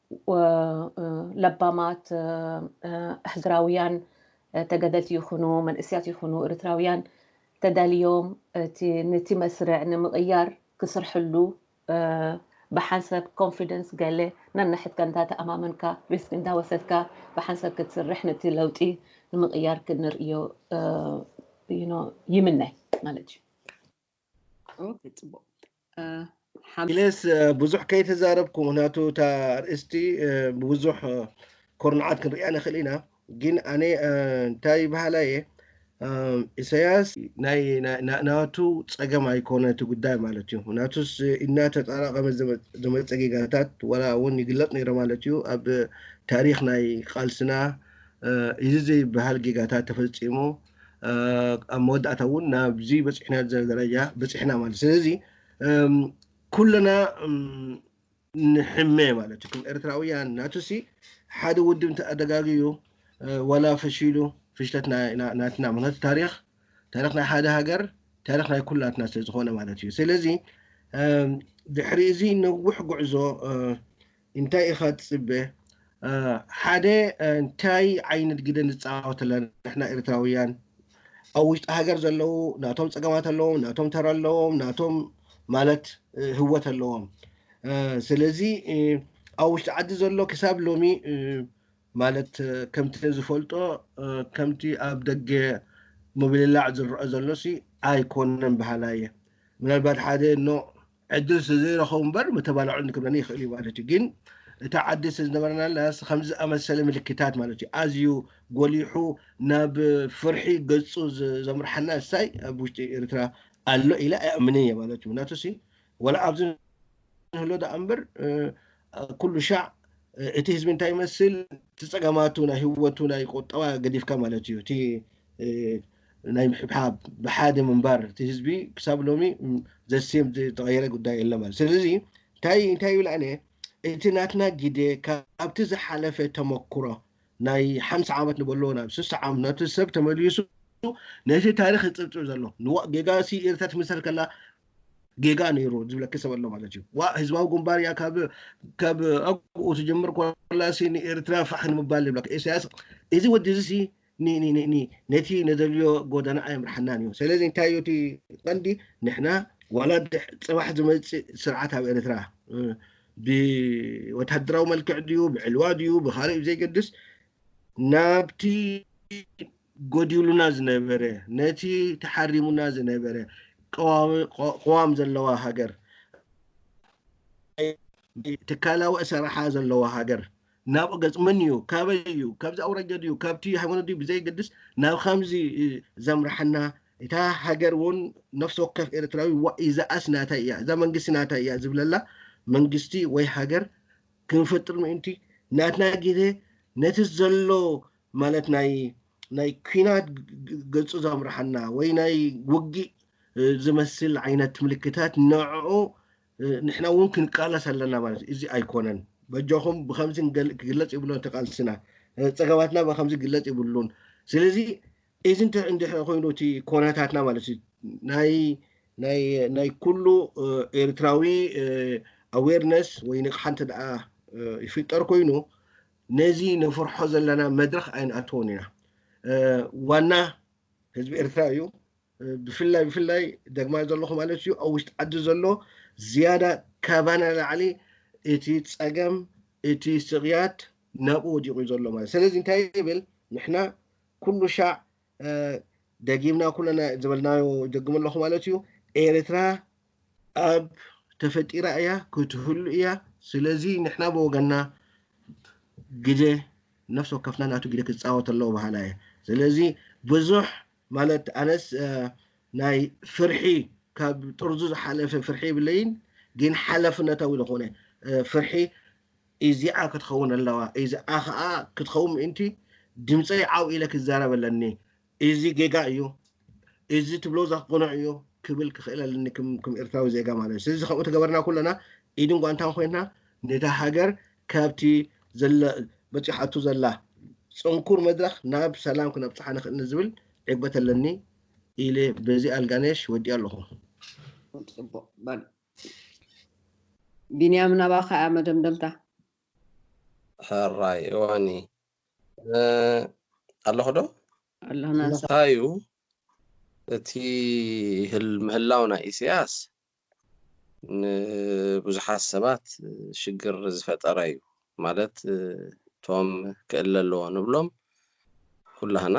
S3: ለባማት ኣህግራውያን ተገደልቲ ይኹኑ መንእስያት ይኹኑ እርትራውያን ተዳልዮም ነቲ መስርዕ ንምቕያር ክስርሕሉ ብሓንሰብ ኮንፊደንስ ገለ ነንሕድካ እንዳተኣማመንካ ሪስክ እንዳወሰድካ ብሓንሰብ ክትስርሕ ነቲ ለውጢ ንምቕያር ክንርእዮ ይምነ ማለት እዩ።
S4: ኢለስ ብዙሕ ከይተዛረብኩ ምክንያቱ እታ ኣርእስቲ ብብዙሕ ኮርንዓት ክንሪኣ ንኽእል ኢና ግን ኣነ እንታይ ይበሃላ እየ ኢሳያስ ናቱ ፀገም ኣይኮነ እቲ ጉዳይ ማለት እዩ ናቱስ እናተጠራቐመ ዝመፀ ጌጋታት ዋላ እውን ይግለፅ ነይረ ማለት እዩ ኣብ ታሪክ ናይ ቃልስና እዚ ዘይበሃል ጌጋታት ተፈፂሙ ኣብ መወዳእታ እውን ናብዚ በፅሕና ደረጃ በፅሕና ማለት ስለዚ ኩልና ንሕመ ማለት እዩ ኤርትራውያን ናቱሲ ሓደ ውድብ እንተኣደጋግዩ ዋላ ፈሺሉ ፍሽለት ናትና ምክንያቱ ታሪክ ታሪክ ናይ ሓደ ሃገር ታሪክ ናይ ኩላትና ስለዝኾነ ማለት እዩ ስለዚ ድሕሪ እዚ ነዊሕ ጉዕዞ ኢንታይ ኢካ ትጽበ ሓደ እንታይ ዓይነት ግደ ንጻወት ኣለና ንሕና ኤርትራዊያን ኣብ ውሽጢ ሃገር ዘለዉ ናቶም ጸገማት ኣለዎም ናቶም ተራ ኣለዎም ናቶም ማለት ህወት ኣለዎም ስለዚ ኣብ ውሽጢ ዓዲ ዘሎ ክሳብ ሎሚ ማለት ከምቲ ዝፈልጦ ከምቲ ኣብ ደገ ምብልላዕ ዝረአ ዘሎሲ ኣይኮነን በሃላይ እየ ምናልባት ሓደ ኖ ዕድል ስለዘይረኸቡ እምበር ምተባልዖን ክብለኒ ይኽእል እዩ ማለት እዩ ግን እታ ዓዲ ስለዝነበረናላስ ከምዚ ኣመሰለ ምልክታት ማለት እዩ ኣዝዩ ጎሊሑ ናብ ፍርሒ ገጹ ዘምርሓና እሳይ ኣብ ውሽጢ ኤርትራ ኣሎ ኢለ ኣይኣምንን እየ ማለት እዩ ምክንያቱ ሲ ወላ ኣብዚ ንህሎ ደኣ እምበር ኩሉ ሻዕ እቲ ህዝቢ እንታይ ይመስል እቲ ፀገማቱ ናይ ህወቱ ናይ ቁጠባ ገዲፍካ ማለት እዩ እቲ ናይ ምሕብሓብ ብሓደ ምንባር እቲ ህዝቢ ክሳብ ሎሚ ዘሴም ዝተቐየረ ጉዳይ የለ ማለት ስለዚ እንታይ እንታይ ይብል ኣነ እቲ ናትና ግደ ካብቲ ዝሓለፈ ተመክሮ ናይ ሓምሳ ዓመት ንበሎ ናብ ስሳ ዓመት ነቲ ሰብ ተመሊሱ ነቲ ታሪክ ዝፅብፅብ ዘሎ ንዋእ ጌጋ ሲ ኤርትራ ትምሰል ከላ ጌጋ ነይሩ ዝብለኪ ሰብ ኣሎ ማለት እዩ ዋ ህዝባዊ ግንባር እያ ካብ ካብ ኣብኡ ትጀምር ኮላሲ ንኤርትራ ፋሕ ንምባል ይብለካ ኢሳያስ እዚ ወዲ እዚ ነቲ ንደልዮ ጎደና ኣየምርሓናን እዩ። ሰለዚ እንታይ እዩ እቲ ቀንዲ ንሕና ዋላ ጽባሕ ዝመጽእ ስርዓት ኣብ ኤርትራ ብወተሃደራዊ መልክዕ ድዩ ብዕልዋ ድዩ ብኻልእ ብዘይገድስ ናብቲ ጎዲሉና ዝነበረ ነቲ ተሓሪሙና ዝነበረ ቅዋም ዘለዋ ሃገር ትካላዊ ኣሰራሓ ዘለዋ ሃገር ናብ ገጽ መን እዩ ካበይ እዩ ካብዚ ኣውራጃ ድዩ ካብቲ ሃይማኖት ድዩ ብዘይገድስ ናብ ከምዚ ዘምርሓና እታ ሃገር እውን ነፍሲ ወከፍ ኤርትራዊ ዋእ እዛኣስ ናተይ እያ እዛ መንግስቲ ናተይ እያ ዝብለላ መንግስቲ ወይ ሃገር ክንፈጥር ምእንቲ ናትና ግዜ ነቲ ዘሎ ማለት ናይ ናይ ኩናት ገጹ ዘምርሓና ወይ ናይ ውግእ ዝመስል ዓይነት ምልክታት ንዕኡ ንሕና እውን ክንቃለስ ኣለና ማለት እዩ። እዚ ኣይኮነን በጃኹም ብከምዚ ክግለፅ ይብሎ ተቃልስና ፀገማትና ብከምዚ ክግለፅ ይብሉን ስለዚ እዚ እንድሕር ኮይኑ እቲ ኮነታትና ማለት እዩ ናይ ናይ ናይ ኩሉ ኤርትራዊ ኣዌርነስ ወይ ንቕሓ እንተ ደኣ ይፍጠር ኮይኑ ነዚ ነፍርሖ ዘለና መድረኽ ኣይንኣትዎን ኢና ዋና ህዝቢ ኤርትራ እዩ ብፍላይ ብፍላይ ደግማይ ዘለኹ ማለት እዩ ኣብ ውሽጢ ዓዲ ዘሎ ዝያዳ ካባና ላዕሊ እቲ ፀገም እቲ ስቕያት ናብኡ ወዲቑ እዩ ዘሎ ማለት ስለዚ እንታይ ይብል ንሕና ኩሉ ሻዕ ደጊምና ኩለና ዝበልናዮ ይደግም ኣለኹ ማለት እዩ ኤርትራ ኣብ ተፈጢራ እያ ክትህሉ እያ ስለዚ ንሕና ብወገንና ግደ ነፍሲ ወከፍና ናቱ ግደ ክፃወት ኣለዎ በሃላ እየ ስለዚ ብዙሕ ማለት ኣነስ ናይ ፍርሒ ካብ ጥርዙ ዝሓለፈ ፍርሒ ይብለይን ግን ሓላፍነታዊ ዝኾነ ፍርሒ እዚኣ ክትኸውን ኣለዋ እዚኣ ከዓ ክትኸውን ምእንቲ ድምፀይ ዓው ኢለ ክዛረብ ኣለኒ እዚ ጌጋ እዩ እዚ ትብሎ ዘቅኑዕ እዩ ክብል ክኽእል ኣለኒ ክም ኤርትራዊ ዜጋ ማለት እዩ ስለዚ ከምኡ ተገበርና ኩለና ኢድን ጓንታን ኮይንና ነታ ሃገር ካብቲ ዘለ በጺሓቶ ዘላ ጽንኩር መድረኽ ናብ ሰላም ክነብጽሓ ንኽእል ንዝብል ዕግበት ኣለኒ ኢለ በዚ ኣልጋነሽ ወዲኣ ኣለኹ። ጽቡቕ በል
S1: ቢንያም ናባኻ እያ መደምደምታ። ሕራይ
S5: እዋኒ ኣለኹ ዶ? ኣለኹ ናንሳ።
S1: እንታይ እዩ
S5: እቲ ምህላው ናይ ኢሰያስ ንብዙሓት ሰባት ሽግር ዝፈጠረ እዩ ማለት እቶም ክእለ ኣለዎ ንብሎም ኩላህና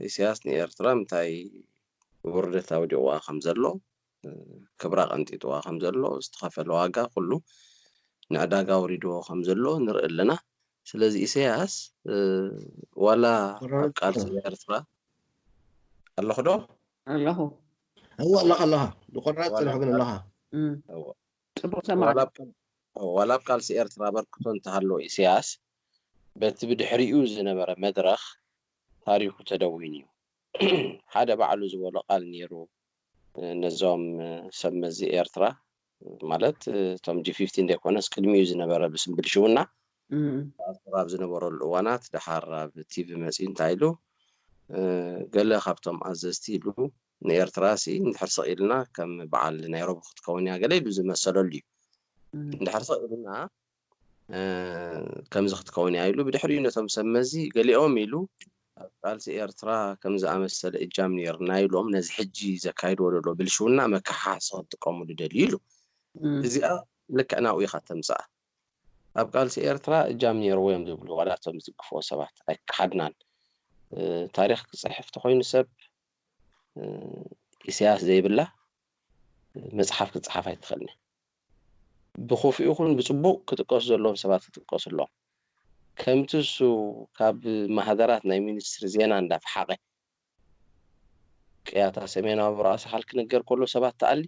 S5: ኢሳያስ ንኤርትራ ምንታይ ውርደት ኣውዲቕዋ ከም ዘሎ ክብራ ቀንጢጥዋ ከም ዘሎ ዝተኸፈለ ዋጋ ኩሉ ንዕዳጋ ኣውሪድዎ ከም ዘሎ ንርኢ ኣለና ስለዚ ኢሳያስ ዋላ ኣብ ቃልሲ ኤርትራ ኣለኹ ዶ ኣለኹ
S1: እወ
S4: ኣለኻ ኣለኻ ብቑራፅ ፅንሑ ግን ኣለኻ ፅቡቕ
S5: ሰማዕቲ ዋላ ኣብ ቃልሲ ኤርትራ ኣበርክቶ እንተሃለዎ ኢሰያስ በቲ ብድሕሪኡ ዝነበረ መድረኽ ታሪኹ ተደዊኑ እዩ ሓደ ባዕሉ ዝበሎ ቃል ኔሩ ነዞም ሰብ መዚ ኤርትራ ማለት እቶም ጂ ፊፍቲን ዘይኮነስ ቅድሚኡ ዝነበረ ብስም ብልሽውና ተኣስሩ ኣብ ዝነበረሉ እዋናት ደሓር ኣብ ቲቪ መፂኡ እንታይ ኢሉ ገለ ካብቶም ኣዘዝቲ ኢሉ ንኤርትራ ሲ እንድሕር ስቕ ኢልና ከም በዓል ናይሮቢ ክትከውን እያ ገለ ኢሉ ዝመሰለሉ እዩ እንድሕር ስቕ ኢልና ከምዚ ክትከውን እያ ኢሉ ብድሕሪኡ ነቶም ሰብ መዚ ገሊኦም ኢሉ ኣብ ቃልሲ ኤርትራ ከም ዝኣመሰለ እጃም ነይርና ኢሎም ነዚ ሕጂ ዘካይድዎ ዘሎ ብልሽውና መከሓሓሲ ክጥቀምሉ ደልዩ ኢሉ እዚኣ ልክዕ ናብኡ ኢኻ ተምጽኣ ኣብ ቃልሲ ኤርትራ እጃም ነይርዎ እዮም ዝብሉ ዋላ እቶም ዝድግፍዎ ሰባት ኣይከሓድናን ታሪኽ ክጽሕፍ ተኾይኑ ሰብ ኢሳያስ ዘይብላ መጽሓፍ ክጽሓፍ ኣይትኽእልን ብኽፉእ ይኹን ብጽቡቕ ክጥቀሱ ዘለዎም ሰባት ክጥቀሱ ኣለዎም። ከምቲ እሱ ካብ ማህደራት ናይ ሚኒስትሪ ዜና እንዳ ፈሓቐ ቅያታ ሰሜናዊ ራእሲ ኻል ክንገር ከሎ ሰባት ትኣሊ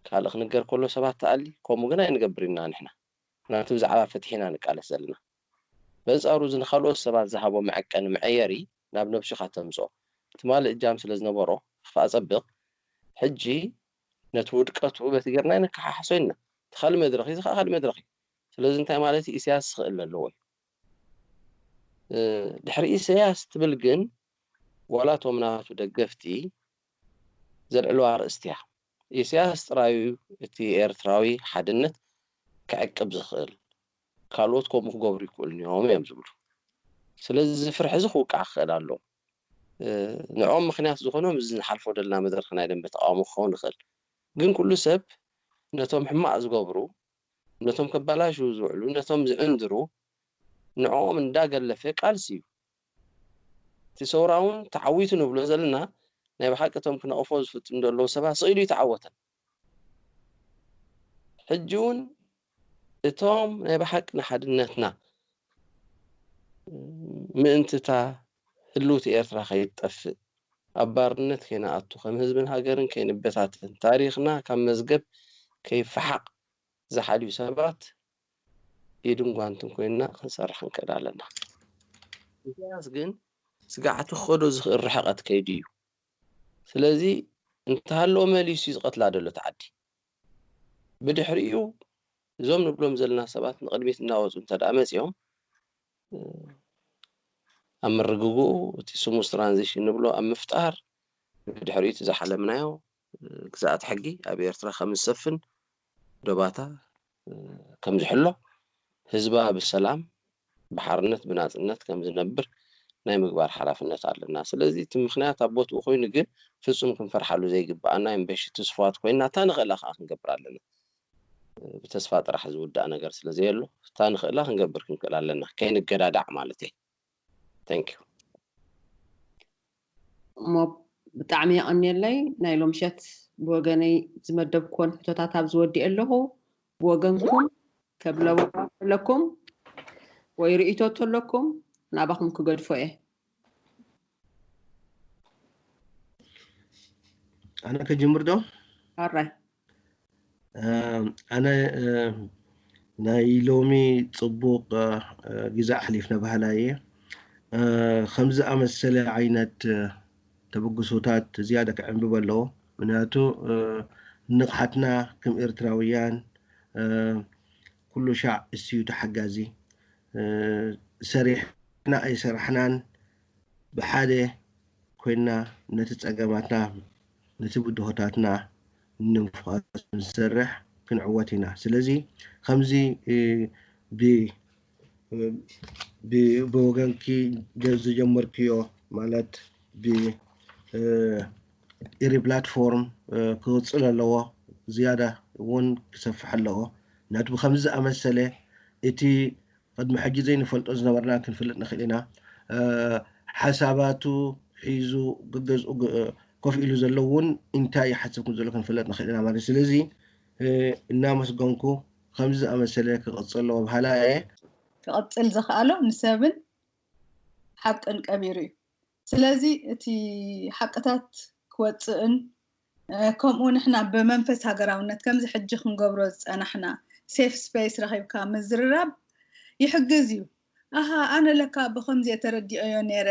S5: ካልእ ክንገር ከሎ ሰባት ትኣሊ ከምኡ ግን ኣይንገብር ኢና ንሕና ምኽንያቱ ብዛዕባ ፍትሒ ኢና ንቃለስ ዘለና በንጻሩ እዚ ንኻልኦት ሰባት ዝሃቦ መዐቀኒ መዐየሪ ናብ ነብሱ ኢኻ ተምጽኦ ትማሊ እጃም ስለ ዝነበሮ ኽፍኣ ጸብቕ ሕጂ ነቲ ውድቀቱ በቲ ጌርና ነከሓሕሶ ኢልና። እቲ ካልእ መድረኽ እዩ፣ እዚ ከኣ ካልእ መድረኽ እዩ። ስለዚ እንታይ ማለት እዩ ኢሰያስ ክእለ ኣለዎ እዩ። ድሕሪ ኢሰያስ ትብል ግን ዋላ እቶም ናቱ ደገፍቲ ዘልዕልዋ ኣርእስቲ እያ። ኢሰያስ ጥራይ እዩ እቲ ኤርትራዊ ሓድነት ክዕቅብ ዝኽእል፣ ካልኦት ከምኡ ክገብሩ ኣይክእሉን እዮም እዮም ዝብሉ። ስለዚ እዚ ፍርሒ እዚ ክውቃዕ ክኽእል ኣለዎ። ንዕኦም ምኽንያት ዝኾኖም እዚ ንሓልፎ ደለና መድረኽ ናይ ደንበ ተቓውሞ ክኸውን ይኽእል ግን ኩሉ ሰብ ነቶም ሕማቕ ዝገብሩ ነቶም ከባላሽዉ ዝውዕሉ ነቶም ዝዕንድሩ ንዕኦም እንዳ ገለፈ ቃልሲ እዩ እቲ ሰውራ ውን ተዓዊቱ ንብሎ ዘለና ናይ ብሓቂ እቶም ክነቕፎ ዝፍትኑ ደለዉ ሰባት ስቅ ኢሉ ኣይተዓወተን። ሕጂ እውን እቶም ናይ ብሓቂ ንሓድነትና ምእንቲ እታ ህልውቲ ኤርትራ ከይትጠፍእ ኣብ ባርነት ከይንኣቱ ከም ህዝብን ሃገርን ከይንበታተን ታሪኽና ካብ መዝገብ ከይፈሓቕ ዝሓልዩ ሰባት ኢድን ጓንትን ኮይንና ክንሰርሕ ክንክእል ኣለና። ኢሳያስ ግን ስግዓቱ ክኸዶ ዝኽእል ርሕቐት ከይዱ እዩ። ስለዚ እንተሃለወ መሊሱ እዩ ዝቐትላ ዘሎ እቲ ዓዲ። ብድሕሪኡ እዞም ንብሎም ዘለና ሰባት ንቕድሚት እናወፁ እንተደኣ መፂኦም ኣብ ምርግግኡ እቲ ስሙዝ ትራንዚሽን ንብሎ ኣብ ምፍጣር ብድሕሪኡ እቲ ዝሓለምናዮ ግዝኣት ሕጊ ኣብ ኤርትራ ከም ዝሰፍን ዶባታ ከምዝሕሎ፣ ህዝባ ብሰላም፣ ብሓርነት፣ ብናጽነት ከምዝነብር ናይ ምግባር ሓላፍነት ኣለና። ስለዚ እቲ ምኽንያት ኣብ ቦትኡ ኮይኑ ግን ፍጹም ክንፈርሓሉ ዘይግብኣና የምበሺ ትስፉዋት ኮይና እታ ንኽእላ ከኣ ክንገብር ኣለና። ብተስፋ ጥራሕ ዝውዳእ ነገር ስለዘየሎ እታ ንኽእላ ክንገብር ክንክእል ኣለና። ከይንገዳዳዕ ማለተይ። Thank you።
S1: እሞ ብጣዕሚ የቐንየለይ ናይ ሎምሸት ብወገነይ ዝመደብክዎን ሕቶታት ኣብ ዝወዲኤ ኣለኹ ብወገንኩም ከብለዎ ኣለኩም ወይ ርእይቶ ተለኩም ናባኹም ክገድፎ እየ
S4: ኣነ ከጅምር ዶ ኣራይ
S1: ኣነ
S4: ናይ ሎሚ ፅቡቅ ግዜ ኣሕሊፍና ባህላ እየ ከምዚ ኣመሰለ ዓይነት ተበግሶታት ዝያዳ ክዕንብብ ኣለዎ ምክንያቱ ንቕሓትና ከም ኤርትራውያን ኩሉ ሻዕ እስዩ ተሓጋዚ ሰሪሕና ኣይሰራሕናን ብሓደ ኮይንና ነቲ ጸገማትና ነቲ ብድሆታትና ንምፍዋስ ምስ ንሰርሕ ክንዕወት ኢና ስለዚ ከምዚ ብ ብ ብወገንኪ ዝጀመርክዮ ማለት ብ ኢሪ ፕላትፎርም ክቕጽል ኣለዎ ዝያዳ ውን ክሰፍሕ ኣለዎ ነቲ ብከምዚ ዝኣመሰለ እቲ ቅድሚ ሕጂ ዘይንፈልጦ ዝነበርና ክንፍልጥ ንኽእል ኢና። ሓሳባቱ ሒዙ ገገዝኡ ኮፍ ኢሉ ዘሎ እውን ኢንታይ ይሓስብ ከም ዘሎ ክንፍለጥ ንኽእል ኢና ማለት እዩ። ስለዚ እናመስገንኩ ከምዚ ዝኣመሰለ ክቕጽል ኣለዎ በሃላይ እየ። ክቕጽል
S2: ዝኸኣሎ ንሰብን ሓቅን ቀቢሩ እዩ። ስለዚ እቲ ሓቅታት ክወጽእን ከምኡ ንሕና ብመንፈስ ሃገራውነት ከምዚ ሕጂ ክንገብሮ ዝጸናሕና ሴፍ ስፐይስ ረኺብካ ምዝርራብ ይሕግዝ እዩ። ኣሃ ኣነ ለካ ብኸምዚ'የ ተረዲኤዮ ኔረ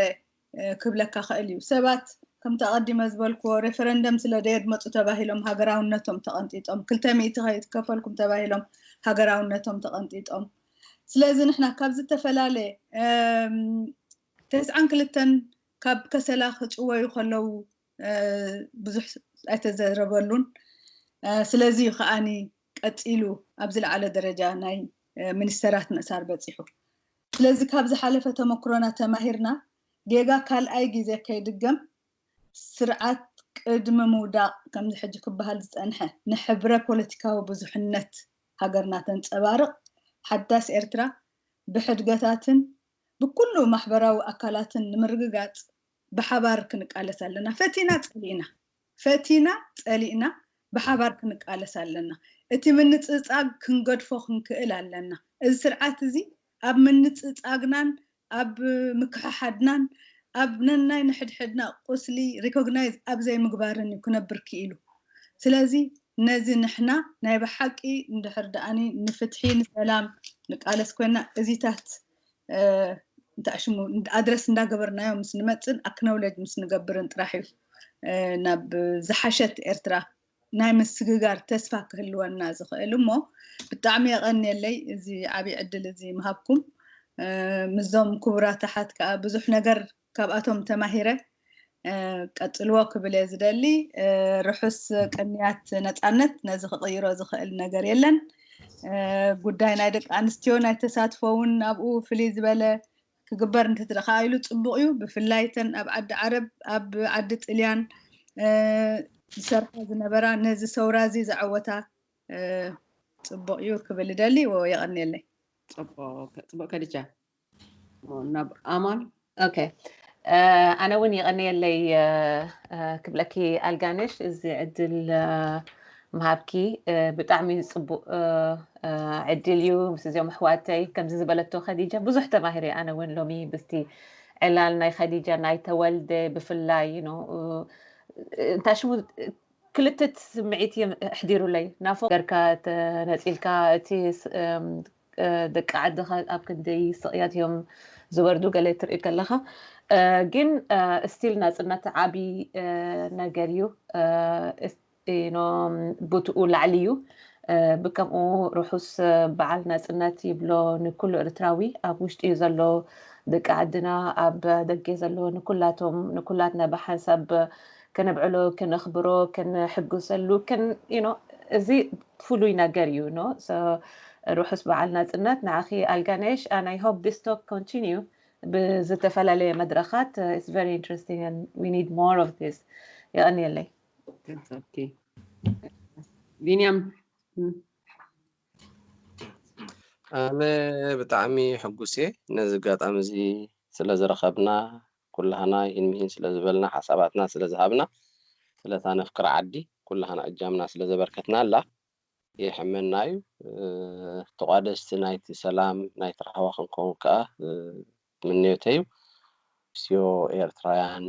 S2: ክብለካ ክእል እዩ። ሰባት ከምቲ ኣቐዲመ ዝበልክዎ ሬፈረንደም ስለ ደየድመጹ ተባሂሎም ሃገራውነቶም ተቐንጢጦም፣ ክልተ ሚእቲ ከይከፈልኩም ተባሂሎም ሃገራውነቶም ተቐንጢጦም። ስለዚ ንሕና ካብ ዝተፈላለየ ተስዓን ክልተን ካብ ከሰላ ክጭወዩ ከለዉ ብዙሕ ኣይተዘረበሉን። ስለዚ እዩ ከኣ ቀጺሉ ኣብ ዝለዓለ ደረጃ ናይ ሚኒስተራት ምእሳር በጺሑ። ስለዚ ካብ ዝሓለፈ ተመኩሮና ተማሂርና ጌጋ ካልኣይ ግዜ ከይድገም ስርዓት ቅድሚ ምውዳቕ ከምዚ ሕጂ ክበሃል ዝጸንሐ ንሕብረ ፖለቲካዊ ብዙሕነት ሃገርና ተንጸባርቕ ሓዳስ ኤርትራ ብሕድገታትን ብኩሉ ማሕበራዊ ኣካላትን ንምርግጋጽ ብሓባር ክንቃለስ ኣለና። ፈቲና ጸሊእና ፈቲና ጸሊእና ብሓባር ክንቃለስ ኣለና። እቲ ምንጽጻግ ክንገድፎ ክንክእል ኣለና። እዚ ስርዓት እዚ ኣብ ምንጽጻግናን ኣብ ምክሕሓድናን ኣብ ነናይ ንሕድሕድና ቁስሊ ሪኮግናይዝ ኣብ ዘይምግባርን እዩ ክነብር ክኢሉ። ስለዚ ነዚ ንሕና ናይ ብሓቂ እንድሕር ድኣኒ ንፍትሒ ንሰላም ንቃለስ ኮይና እዚታት እንታይ ሽሙ ኣድረስ እንዳገበርናዮ ምስ ንመጽን ኣክነውለጅ ምስ ንገብርን ጥራሕ እዩ ናብ ዝሓሸት ኤርትራ ናይ ምስግጋር ተስፋ ክህልወና ዝኽእል እሞ ብጣዕሚ የቐንየለይ እዚ ዓብዪ ዕድል እዚ ምሃብኩም ምስዞም ክቡራት ኣሓት ከዓ ብዙሕ ነገር ካብኣቶም ተማሂረ ቀጽልዎ ክብል እየ ዝደሊ ርሑስ ቅንያት ነፃነት ነዚ ክቕይሮ ዝኽእል ነገር የለን ጉዳይ ናይ ደቂ ኣንስትዮ ናይ ተሳትፎ እውን ኣብኡ ፍልይ ዝበለ ክግበር እንትትረካ ኢሉ ፅቡቅ እዩ ብፍላይ ተን ኣብ ዓዲ ዓረብ ኣብ ዓዲ ጥልያን ዝሰርሓ ዝነበራ ነዚ ሰውራ እዚ ዘዐወታ ፅቡቅ እዩ ክብል ደሊ የቀኒየለይ
S1: ፅቡቅ ከድጃ ናብ ኣማን
S3: ኦኬ ኣነ እውን የቐንየለይ ክብለኪ ኣልጋነሽ እዚ ዕድል ምሃብኪ ብጣዕሚ ፅቡቅ ዕድል እዩ ምስ እዚኦም ኣሕዋተይ ከምዚ ዝበለቶ ከዲጃ ብዙሕ ተማሂረ ኣነ እውን ሎሚ ብስቲ ዕላል ናይ ከዲጃ ናይ ተወልደ ብፍላይ ኖ እንታይ ሽሙ ክልትት ስምዒት እዮም ኣሕዲሩለይ ናፎ ገርካ ተነፂልካ እቲ ደቂ ዓድኻ ኣብ ክንደይ ስቕያት እዮም ዝወርዱ ገለ ትርኢ ከለኻ ግን ስቲል ናፅነት ዓብዪ ነገር እዩ ቦትኡ ላዕሊ እዩ ብከምኡ ርሑስ በዓል ናፅነት ይብሎ ንኩሉ ኤርትራዊ ኣብ ውሽጢ እዩ ዘሎ ደቂ ዓድና ኣብ ደገ ዘሎ ንኩላቶም ንኩላትና ብሓንሳብ ከነብዕሎ ከነኽብሮ ከነሕጉሰሉ እዚ ፍሉይ ነገር እዩ ርሑስ በዓል ናፅነት ንዓኺ ኣልጋነሽ and i hope this talk continue ብዝተፈላለየ መድረኻት it's very interesting and we need more of this የቐንየለይ
S1: ቢንያም
S5: ኣነ ብጣዕሚ ሕጉስ እየ ነዚ ኣጋጣሚ እዚ ስለዝረኸብና ኩላህና ይህን ምሂን ስለ ዝበልና ሓሳባትና ስለ ዝሃብና ስለታ ነፍቅራ ዓዲ ኩላህና እጃምና ስለ ዘበርከትናላ የሕመና እዩ ተቋደስቲ ናይቲ ሰላም ናይቲ ራህዋ ክንከውን ከኣ ምንዮተይ እዩ ንስዮ ኤርትራውያን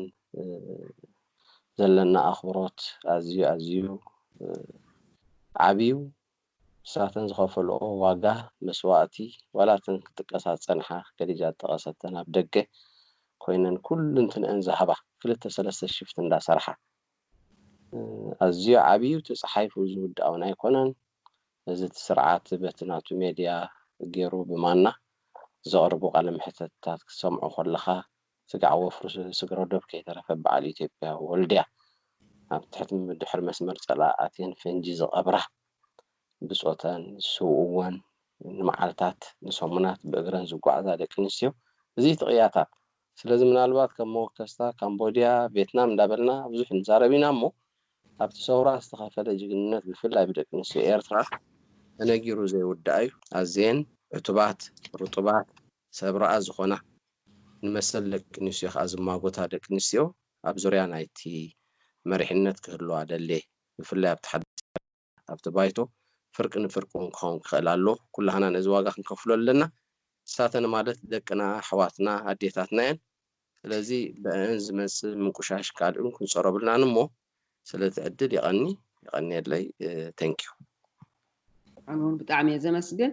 S5: ዘለና ኣኽብሮት ኣዝዩ ኣዝዩ ዓቢ እዩ ንሳተን ዝኸፈልኦ ዋጋ መስዋእቲ ዋላ እተን ክጥቀሳ ዝጸንሓ ከዲጃ ዝጠቐሰ እተን ኣብ ደገ ኮይነን ኩሉንትንኣን ዝሃባ ክልተ ሰለስተ ሽፍት እንዳ ሰርሓ ኣዝዩ ዓብዩ እቲ ጸሓይፉ ዝውድኣውን ኣይኮነን እዚ እቲ ስርዓት በቲ ናቱ ሜድያ ጌሩ ብማና ዘቕርቡ ቃለ መሕተትታት ክትሰምዖ ኮለኻ ስጋዕ ወፍሪ ስግረዶብ ከይተረፈ በዓል ኢትዮጵያ ወልድያ ኣብ ትሕቲ ድሕሪ መስመር ፀላኣተን ፈንጂ ዝቐብራ ብፆተን ዝስውእወን ንመዓልታት ንሰሙናት ብእግረን ዝጓዓዛ ደቂ ኣንስትዮ እዙይ እቲ ቅያታት ስለዚ ምናልባት ከም መወከስታ ካምቦድያ ቬትናም እንዳበልና ብዙሕ ንዛረብ ኢና እሞ ኣብቲ ሰውራ ዝተኸፈለ ጅግንነት ብፍላይ ብደቂ ኣንስትዮ ኤርትራ ተነጊሩ ዘይውዳእ እዩ ኣዝየን ዕቱባት ርጡባት ሰብ ርኣ ዝኾና ንመሰል ደቂ ኣንስትዮ ከኣ ዝማጎታ ደቂ ኣንስትዮ ኣብ ዙርያ ናይቲ መሪሕነት ክህልዋ ደልየ። ብፍላይ ኣብቲ ሓድሽ ኣካይዳ፣ ኣብቲ ባይቶ ፍርቂ ንፍርቂ እውን ክኸውን ክኽእል ኣለዎ። ኩላህና ነዚ ዋጋ ክንከፍሎ ኣለና። ንሳተን ማለት ደቅና፣ ኣሕዋትና፣ ኣዴታትና እየን። ስለዚ ብእኣን ዝመጽእ ምንቁሻሽ ካልእን ክንጸሮ የብልናን እሞ ስለቲ ዕድል የቐኒ። የቐንየለይ። Thank you።
S1: ኣነውን ብጣዕሚ እየ ዘመስግን።